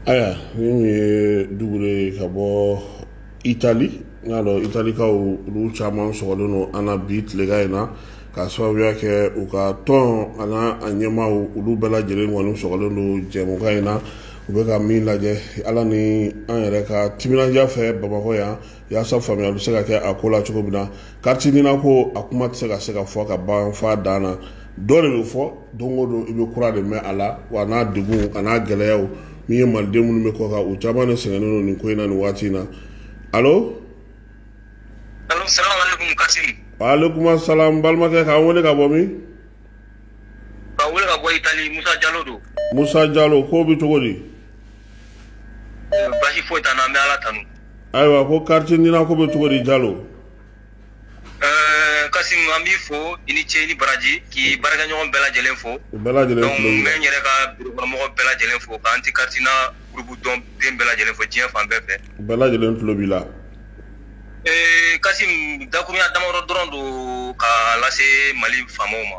ayiwa nin ye Dukure ye ka bɔ Itali n y'a dɔn italikaw olu caman sɔgɔlen don an bi tileka in na ka sababuya kɛ u ka tɔn an'a ɲɛmaaw olu bɛɛ lajɛlen kɔni sɔgɔlen don jɛmukan in na u bɛ ka min lajɛ ala ni an yɛrɛ ka timinandiya fɛ bamakɔ yan yaasa faamuya bɛ se ka kɛ a ko la cogo min na kariti nina ko a kuma tɛ se ka se ka fɔ ka ban fa dan na dɔ de bɛ fɔ don o don i bɛ kura de mɛn a la wa n'a degunw an'a gɛlɛyaw min ye maliden minnu bɛ kɔkan u caman de sɛgɛnnen don nin ko in na nin waati in na alo alo salamaleykum kasim waalekum salam balimakɛ k'an wele ka bɔ min ka wele ka bɔ itali musa jalo don musa jalo ko bɛ cogo di basi foyi t'an na an bɛ ala tanu ayiwa ko kariti nina ko bɛ cogo di jalo Ɛɛ kasim an b'i fo i ni ce ni baraji k'i baarakɛɲɔgɔn bɛɛ lajɛlen fo bɛɛ lajɛlen n bɛ n yɛrɛ ka birokɔnɔmɔgɔ bɛɛ lajɛlen fo ka anti kariti nina gurupu tɔnden bɛɛ lajɛlen fo diɲɛ fan bɛɛ fɛ bɛɛ lajɛlen tulo b'i la ee kasim dakuruɲa damadɔ dɔrɔn don k'a lase mali faamaw ma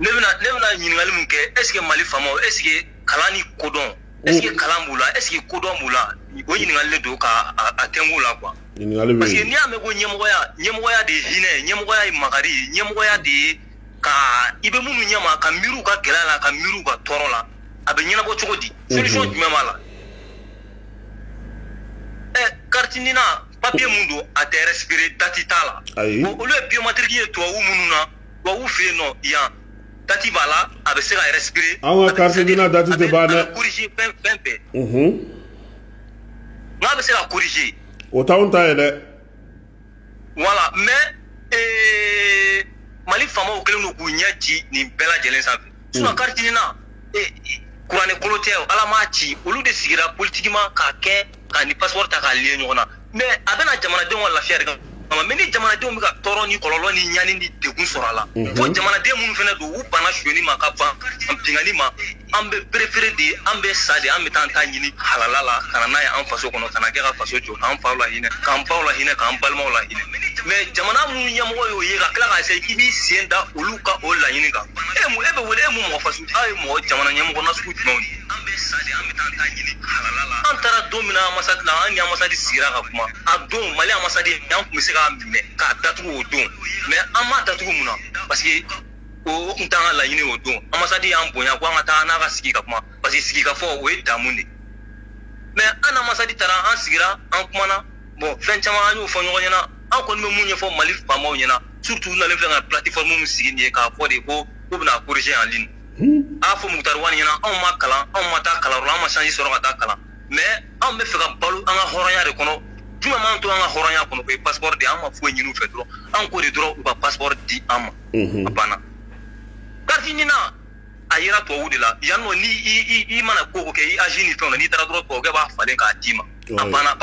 ne bɛna ɲininkali min kɛ eseke mali faamaw eseke kalan ni kodɔn Est-ce que kalan b'u la est-ce que kodɔn b'u la o ɲininkali de don ka a tɛnku la quoi parce que n'i y'a mɛn ko ɲɛmɔgɔya ɲɛmɔgɔya de ye hinɛ ye ɲɛmɔgɔya ye makari ye ɲɛmɔgɔya de ye ka i bɛ minnu ɲɛma ka miiri u ka gɛlɛya la ka miiri u ka tɔɔrɔ la a bɛ ɲɛnabɔ cogo di solution jumɛn b'a la ɛ kariti nina papiye mun don a tɛ respirer dati t'a la olu ye biomatiriki ye tubabu minnu na tubabu fɛ yen nɔ yan dati b'a la a bɛ se ka respirer an ka carte nina dati tɛ ban dɛ corriger fɛn fɛn bɛɛ unhun n'a bɛ se ka corriger o t'anw ta ye dɛ voilà mais ee mali faamaw kɛlen don k'u ɲɛ ci nin bɛɛ lajɛlen sanfɛ sinon hmm. carte nina kuranɛ kolo tɛ ala m'a ci olu de sigira politiquement k'a kɛ k'a ni passeport ta k'a liye ɲɔgɔn na mɛ a bɛ na jamanadenw ka lafiya de kama mɛ ni jamanadenw bɛ ka tɔɔrɔ ni kɔlɔlɔ ni ɲani ni degun sɔrɔ a la fo jamanaden minnu fana don u banna sonyani ma ka ban binkanni ma an bɛ perefere de an bɛ sa de an bɛ taa an ta ɲini halala la ka na n'a ye an faso kɔnɔ ka n'a kɛ ka faso jɔ k'an faw la hinɛ k'an baw la hinɛ k'an balimaw la hinɛ mɛ jamana minnu ɲɛmɔgɔ y'o ye ka tila k'a se k'i b'i sen da olu ka o laɲini kan e bɛ wele e mun mɔgɔ faso aw ye mɔgɔ jamana ɲɛmɔgɔ nasugu jumɛnw ye an bɛ sa de an bɛ taa an ta ɲini halala la an taara don min na amasadi la an ni amasadi sigira ka kuma a don mali amasadi an tun bɛ se k'a minɛ k'a datugu o don mɛ an m'a datugu mun na parce que o o tun t'an ka laɲini o don amasadi y'an bonya ko an ka taa n'a ka sigi ka kuma parce que sigi ka fɔ o ye damu ye mɛ an n'amasadi taara an sigira an kumana bɔn fɛn caman an y'o fɔ ɲɔgɔn ɲɛna an kɔni bɛ mun ɲɛfɔ mali faamaw ɲɛna surtout u nalen filɛ ka plateforme min sigi nin ye k'a fɔ de ko k'u bɛna corriger en ligne a fɔ mukutari wani ɲɛ na anw ma kalan anw ma taa kalanyɔrɔ la an ma chance sɔrɔ ka taa kalan mais anw bɛ fɛ ka balo an ka hɔrɔnya de kɔnɔ jumɛn m'an to an ka hɔrɔnya kɔnɔ o ye passeport de ye an ma foyi ɲini u fɛ dɔrɔn an k'o de dɔrɔn u ka passeport di an ma a banna carte nina a yera tubabu de la yan nɔ ni i mana ko o ko kɛ i âge ni fɛnw na n'i taara dɔrɔn tubabukɛ b'a falen k'a d'i ma a banna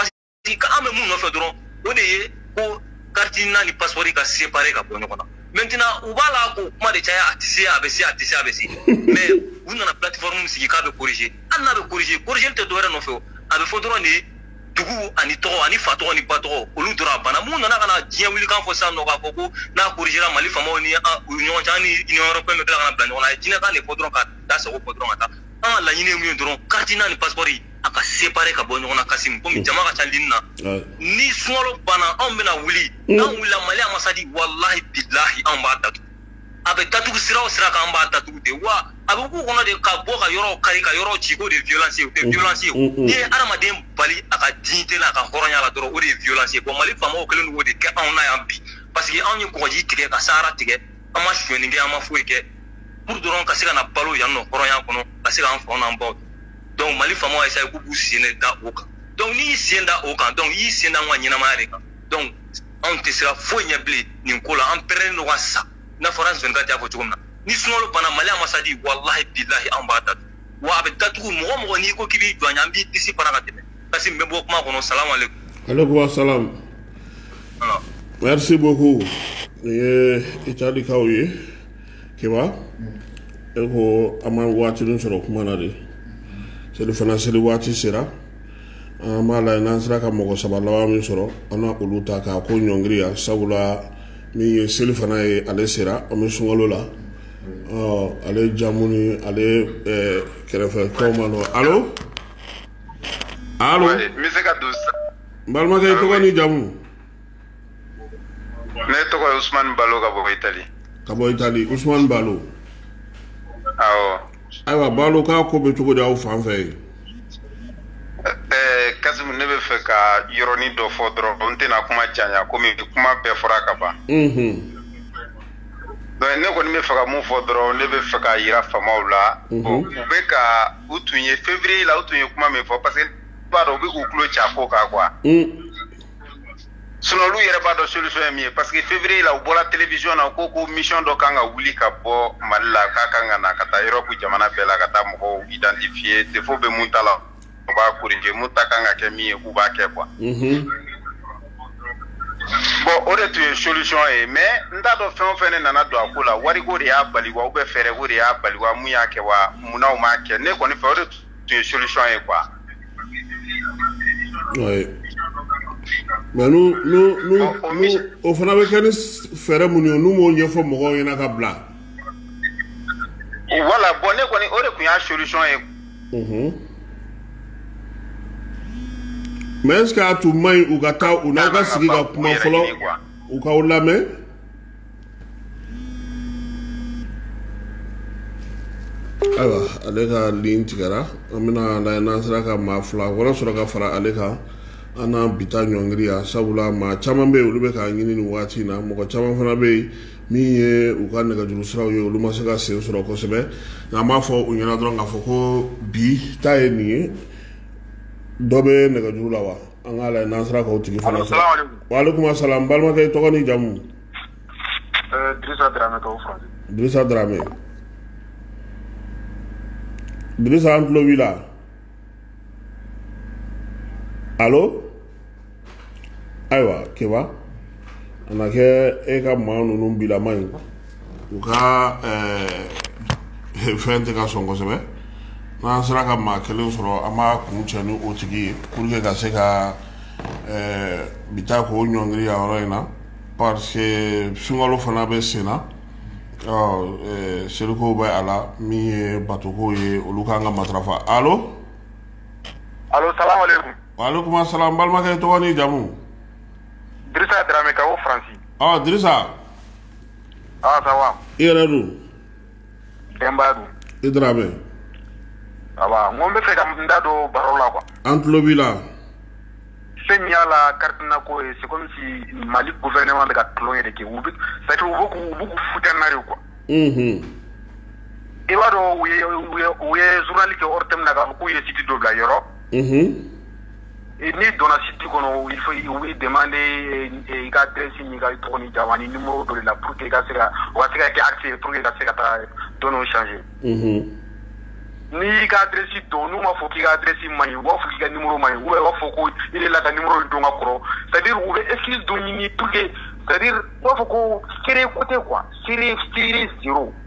parce que an bɛ mun nɔfɛ dɔrɔn o de ye ko carte nina ni passeport ka séparer ka bɔ ɲɔgɔn na maintenant u b'a la k'o kuma de caya a tɛ se a bɛ se a tɛ se a bɛ se mais u nana plateforme sigi k'a bɛ corriger hali n'a bɛ corriger corriger tɛ dɔwɛrɛ nɔfɛ o a bɛ fɔ dɔrɔn de ye dugu ani tɔgɔ ani fa tɔgɔ ni ba tɔgɔ olu dɔrɔn a banna mun nana ka na diɲɛ wulikan fɔ sisan nɔ k'a fɔ ko n'a corrigera mali faamaw ni u ɲɔgɔn cɛ ni union européenne bɛ tila ka na bila ɲɔgɔn na a ye jinɛkan de fɔ dɔrɔn ka da sago fɔ dɔrɔn ka taa an ka laɲini ye mun ye dɔrɔn carte nina ni passeport a ka séparer ka bɔ ɲɔgɔn na Kasimu komi jama ka ca lini na ni sunkalo banna anw bɛna wuli n'an wulila Mali ambassade walahi bilahi anw b'a datugu a bɛ datugu sira o sira kan an b'a datugu de wa a bɛ k'u kɔnɔ de ka bɔ ka yɔrɔw kari ka yɔrɔw ci k'o de ye violence ye o tɛ violence ye o n'i ye hadamaden bali a ka dignité la a ka hɔrɔnya la dɔrɔn o de ye violence ye bon Mali faamaw kɛlen don k'o de kɛ anw na yan bi parce que anw ye kɔgɔji tigɛ ka sahara tigɛ an ma sonyɛni kɛ an ma foyi kɛ pour dɔrɔn ka se ka na balo yan nɔ hɔrɔnya kɔnɔ ka se k'an faw n'an baw donc mali faamaw y'a essayé k'u b'u sen de da o kan donc n'i y'i sen da o kan donc i y'i sen da an ka ɲɛnamaya de kan donc anw tɛ siran foyi ɲɛ bilen nin ko la an pɛrɛnnen don ka sa n'a fɔra zɔni kante y'a fɔ cogo min na ni sunkalo banna mali ambassade walahi bilahi anw b'a datugu wa a bɛ datugu mɔgɔ o mɔgɔ n'i ko k'i b'i jɔ an ɲɛ an b'i disi fara ka tɛmɛ kasimu n bɛ bɔ kuma kɔnɔ salamu aleykum aleykum asalam merci beaucoup nin ye itali kaw ye keba e ko an ma waatinin sɔrɔ kuma na de selifana seli waati sera an b'a lajɛ n'an sera ka mɔgɔ saba laban min sɔrɔ an na olu ta k'a ko ɲɔngiriya sabula min ye selifana ye ale sera an bɛ sunkalo la ale jamu ni ale kɛrɛfɛ tɔw ma dɔn alo alo n balimakɛ i tɔgɔ ni jamu ne tɔgɔ ye usumani balo ka bɔ itali ka bɔ itali usumani balo awɔ ayiwa balo k'a ko bɛ cogo di aw fan fɛ yen ɛɛ kasimu ne bɛ fɛ ka yɔrɔnin dɔ fɔ dɔrɔn n tɛna kuma caya komi kuma bɛɛ fɔra ka ban donc ne kɔni bɛ fɛ ka mun fɔ dɔrɔn ne bɛ fɛ ka yira faamaw la u bɛ ka u tun ye février la u tun ye kuma min fɔ parce que n b'a dɔn u bɛ k'u tulo j'a ko kan quoi sinon olu yɛrɛ b'a dɔn solution ye min ye parce que février la u bɔra télévision na u ko ko mission dɔ kan ka wuli ka bɔ mali la k'a kan ka na ka taa europe jamana bɛɛ la ka taa mɔgɔw identifier défaut bɛ mun ta la u b'a corriger mun ta kan ka kɛ min ye k'u b'a kɛ quoi mhm. bon o de tun ye solution ye mais n t'a dɔn fɛn o fɛn ne nana don a ko la wariko de y'a bali wa ou bien fɛɛrɛko de y'a bali wa mun y'a kɛ wa munna u m'a kɛ ne kɔni fɛ o de tun ye solution ye quoi. Ouais. Mais n'u n'u n'u n'u o fana bɛ kɛ ni fɛɛrɛ minnu ye n'u m'o ɲɛfɔ mɔgɔw ɲɛna ka bila. Voilà bon ne kɔni o de tun y'a solution ye. Unhun. Mais est ce que a tun man ɲi u ka taa u n'aw ka sigi ka kuma fɔlɔ u k'aw lamɛn. ayiwa ale ka ligne tigɛra an bɛna lajɛ n'an sera ka maa fila wɛrɛ sɔrɔ ka fara ale kan an na bi ta ɲɔngiri yan sabula maa caman bɛ yen olu bɛ k'a ɲini nin waati in na mɔgɔ caman fana bɛ yen min ye u ka nɛgɛjuru siraw ye olu ma se ka sen sɔrɔ kosɛbɛ nka an b'a fɔ u ɲɛna dɔrɔn k'a fɔ ko bi ta ye nin ye dɔ bɛ nɛgɛjuru la wa An k'a lajɛ n'an sera k'o tigi fana sɔrɔ. Allo, salamu aleykum. Waaleykum salam, n balimakɛ i tɔgɔ ni jamu? Ɛɛ Dirisa Darame ka bɔ Faransi. Dirisa Darame. Dirisa an tulo b'i la. Allo? Ayiwa, Keba, a na kɛ e ka maa ninnu bilama ye. u ka eh, fɛn tɛ ka sɔn kosɛbɛ n'an sera ka maa kelen sɔrɔ an b'a kuncɛ ni o tigi ye pour que ka se ka eh, bi ta k'o ɲɔngiri yan yɔrɔ in na parce que sunkalo fana bɛ sen na ɔ eh, selikow bɛ a la min ye batokow ye olu kan ka matarafa alo alo salamu aleykum waaleykum asalam balimakɛ i tɔgɔ ni jamu dirisa darame ka bɔ faransi ɔ dirisa i yɛrɛ don denba don i dɔrɔn bɛ n n bɛ fɛ ka n da don baro la an tulo b'i la fɛn min y'a la kariina ko ye segu mali ko fɛn nema de ka tulon yɛrɛ kɛ u u futna ye kuwa i b'a dɔn u ye zurunli kɛ o te min na k'u ye sidi don bila yɔrɔ n'i donna site kɔnɔ il faut u b'i demander i ka adresse n'i ka tɔgɔ ni jamu ani numéro dɔ de la pour que i ka se ka o ka se ka kɛ accès ye pour que i ka se ka taa données changer n'i y'i ka adresse don n'u m'a fɔ k'i ka adresse man ɲi u b'a fɔ k'i ka numéro man ɲi ou bien u b'a fɔ ko i delila ka numéro in don ka kɔrɔ c'est à dire u bɛ excuse dɔ ɲini pour que c'est à dire u b'a fɔ ko sérieux ko tɛ quoi sérieux sérieux zéro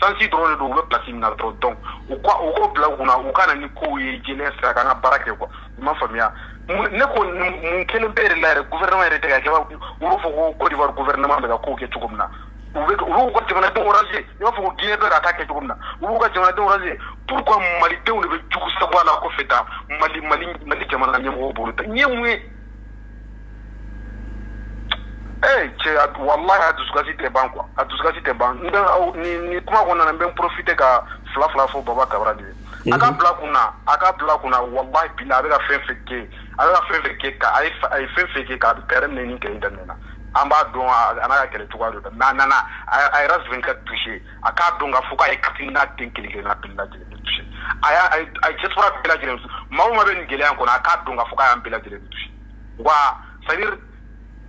chance dɔrɔn de don u bɛ place min na dɔrɔn donc u ka u k'o bila u kunna u ka na ni kow ye jɛlenya sira kan an ka baara kɛ quoi i m'a faamuya ne ko mun kelen bɛ yɛrɛ la yɛrɛ gouvernement yɛrɛ tɛ k'a kɛ i b'a fɔ ko Côte d'Ivoire gouvernement bɛ ka kow kɛ cogo min na u bɛ u b'u ka jamanadenw arranger i b'a fɔ ko Guinée bɛ k'a ta kɛ cogo min na u b'u ka jamanadenw arranger pourquoi malidenw de bɛ jugu sagoya la kɔfɛ tan Mali Mali Mali jamana ɲɛmɔgɔw bolo ɲɛ mun ye ee cɛ a- walahi a dusukasi tɛ ban quoi a dusukasi tɛ ban n bɛ aw- ni ni kuma kɔnɔna na n bɛ n profiter ka fila fila fɔ baba kabara de ye a ka bila kun na a ka bila kun na walahi bi la a bɛ ka fɛn fɛn kɛ a bɛ ka fɛn fɛn kɛ ka a ye fa- a ye fɛn fɛn kɛ ka kɛrɛ minɛ ni kɛlɛ in daminɛ na an b'a dɔn a a n'a ka kɛlɛ cogoya don dɛ mais a nana a a yɛrɛ sɛbɛn ka toucher a k'a dɔn ka fɔ k'a ye carte NINA den kelen kelenna bɛɛ lajɛlen de touché a y'a a ye diaspora bɛɛ lajɛlen maa o maa bɛ nin gɛlɛya in kɔnɔ a k'a dɔn ka fɔ k'a y'an bɛɛ lajɛlen de touché wa c'est à dire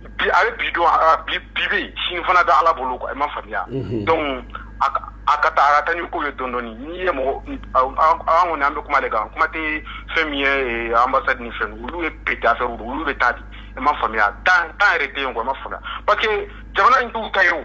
bi a bɛ bi dɔn a bi bi bɛ yen sini fana bɛ ala bolo quoi i ma faamuya donc a ka a ka taa a ka taa ni ko ye dɔɔni dɔɔni n'i ye mɔgɔ an kɔni an bɛ kuma de kan kuma tɛ fɛn min ye ambassade ni fɛn olu ye pete affaire don olu bɛ taa di i ma faamuya temps temps yɛrɛ tɛ yen quoi i ma faamuya parce que jamana in t'u ta ye o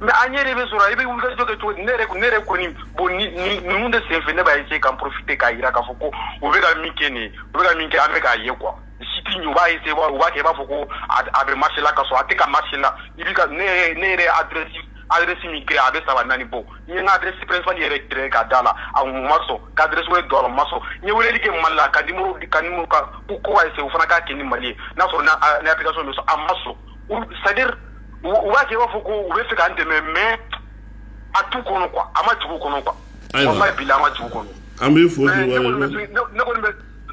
mais an yɛrɛ bɛ sɔrɔ i bɛ wulikajɔ kɛ cogo di ne yɛrɛ ne yɛrɛ kɔni bon ninnu de sen fɛ ne b'a essayer k'an profiter k'a jira k'a fɔ ko u bɛ ka min kɛ nin ye u bɛ ka min kɛ an bɛ k'a ye quoi site in u b'a essayer u b'a kɛ i b'a fɔ ko a bɛ marché la k'a sɔrɔ a tɛ ka marché la i bɛ ka ne yɛrɛ ne yɛrɛ adresse adresse min kɛ a bɛ saba naani bɔ n ye n ka adresse principale yɛrɛ créer k'a d'a la a ma sɔn ka adresse wɛrɛ don a la a ma sɔn n ye weleli kɛ Mali la ka numéro ka numéro ka ko ko ka essayer o fana k'a kɛ ni Mali ye n'a sɔrɔ ni application bɛ sɔn a ma sɔn c'est à dire u b'a kɛ i b'a fɔ ko u bɛ fɛ k'an dɛmɛ mais a t'u kɔnɔ quoi a ma jigin u kɔnɔ quoi walahi bilahi a ma jigin u kɔnɔ an bɛ fɔ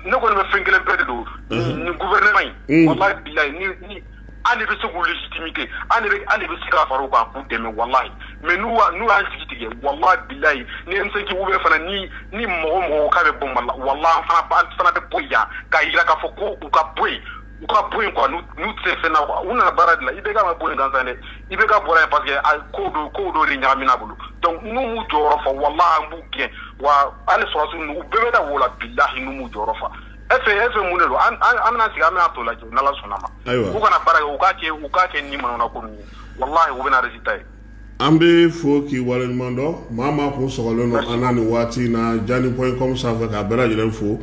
ne kɔni bɛ fɛn kelen bɛɛ de don nin gouvernement in walahi bilahi an de bɛ se k'u légitimité an de bɛ se ka fara u kan k'u dɛmɛ walahi mais n'u n'u y'an jigi tigɛ walahi bilahi ni M5 u bɛ fana ni ni mɔgɔ mɔgɔw k'a bɛ bɔ Mali la walahi an fana bɛ bɔ yan k'a jira k'a fɔ ko u ka bɔ yen u ka bɔ yen quoi n'u n'u tɛ fɛn na quoi u nana baara de la IBK ma bɔ yen gansan dɛ IBK bɔra yen parce que a ko dɔ ko dɔ de ɲagamina a bolo donc n'u m'u jɔyɔrɔ fa walahi an b'u gɛn wa hali sɔrɔsiw ninnu u bɛɛ bɛ da wo la bilahi n'u m'u jɔyɔrɔ fa efe efe mun de don an an an bɛna sigi an bɛna tɔ lajɛ n'ala sɔnna ma u kana baara kɛ u k'a kɛ u k'a kɛ ni manamana ko ninnu ye walahi u bɛna résultat ye An bɛ fo k'i waleɲuman dɔn maa maa kun sɔgɔlen don an na nin waati in na jani point com sanfɛ k'a bɛɛ lajɛlen fo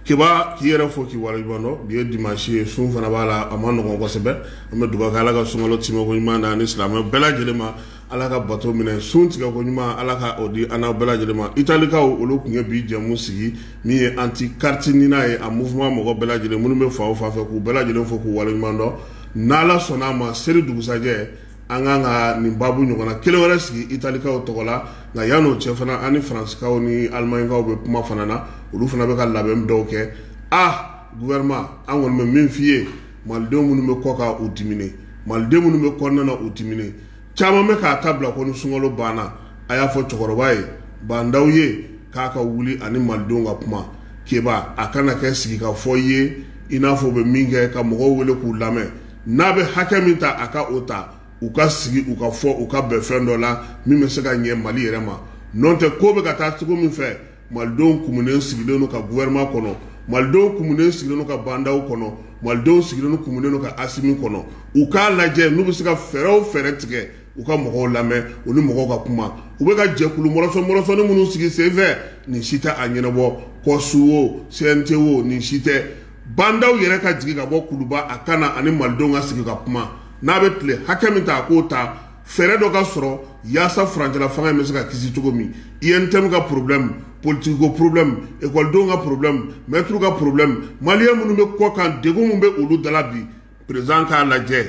k'i yɛrɛ fo k'i waleɲumandɔn bi ye dimasi ye sun fana b'a la a ma nɔgɔ kosɛbɛ an bɛ dugawu kɛ ala ka sunkalo timɛko ɲuman na ni silamɛ bɛɛ lajɛlen ma ala ka bato minɛ sun tigɛko ɲuman ala ka o di an bɛɛ lajɛlen ma italikaw olu tun ye bi jɛmu sigi min ye anti carte NINA ye a mouvement mɔgɔ bɛɛ lajɛlen minnu bɛ fan o fan fɛ k'u bɛɛ lajɛlen fo k'u waleɲumandɔn n'ala sɔnna a ma seli dugusɛjɛ an kan ka nin babu ɲɔgɔnna kelen wɛrɛ sigi italikaw tɔgɔ la nka yann'o cɛ fana ani faransikaw ni alimaɲikaw bɛ kuma fana na olu fana bɛ ka labɛn dɔw kɛ aa gouvernement an kɔni bɛ min f'i ye malidenw minnu bɛ kɔkan u diminen malidenw minnu bɛ kɔnɔna na u diminen caman bɛ k'a ta bila ko ni sunkalo banna a y'a fɔ cɛkɔrɔba ye bandaw ye k'a ka wuli ani malidenw ka kuma keba a kana kɛ sigi ka fɔ ye i n'a fɔ u bɛ min kɛ ka mɔgɔw wele k'u lamɛn n'a bɛ hakɛ min ta a ka o ta u ka sigi u ka fɔ u ka bɛn fɛn dɔ la min bɛ se ka ɲɛ mali yɛrɛ ma n'o tɛ ko bɛ ka taa cogo min fɛ malidenw kumunen sigilen don ka gouvernement kɔnɔ malidenw kumunen sigilen don ka bandaw kɔnɔ malidenw sigilen kumunen don ka asimi kɔnɔ u k'a lajɛ n'u bɛ se ka fɛɛrɛ o fɛɛrɛ tigɛ u ka mɔgɔw lamɛn u ni mɔgɔw ka kuma u bɛ ka jɛkulu mɔrɔsɔ mɔrɔsɔnin minnu sigi senfɛ nin si tɛ a ɲɛnabɔ kɔ su o CNT o nin si tɛ bandaw yɛrɛ ka jigin ka bɔ kuluba a ka na ani malidenw ka sigi ka kuma n'a bɛ tile hakɛ min ta a k'o ta fɛɛrɛ dɔ ka sɔrɔ yaasa furancɛla fanga in bɛ se ka kisi cogo min UNTM ka problème politique ko problème ekɔlidenw ka problème maître ka problème maliyɛn minnu bɛ kɔkan degun min bɛ olu da la bi président k'a lajɛ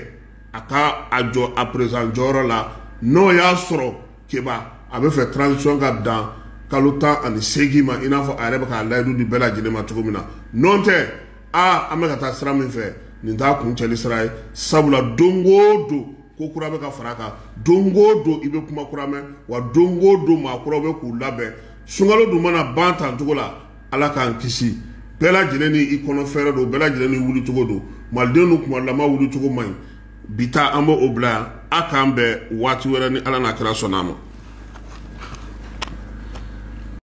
a ka a jɔ a président jɔyɔrɔ la n'o y'a sɔrɔ keba a bɛ fɛ transition ka dan kalo tan ani seegin ma i n'a fɔ a yɛrɛ bɛ k'a layidu di bɛɛ lajɛlen ma cogo min na n'o tɛ aa an bɛ ka taa sira min fɛ nin t'a kuncɛli sira ye sabula don o don ko kura bɛ ka fara kan don o don i bɛ kuma kura mɛn wa don o don maa kuraw bɛ k'u labɛn sunkalo dun mana ban tan cogo la Ala k'an kisi bɛɛ lajɛlen ni i kɔnɔ fɛɛrɛ don bɛɛ lajɛlen ni wulicogo don maliden don kuma lama wulicogo man ɲi bi ta an b'o bila yan a k'an bɛn waati wɛrɛ ni ala n'a kira sɔnna a ma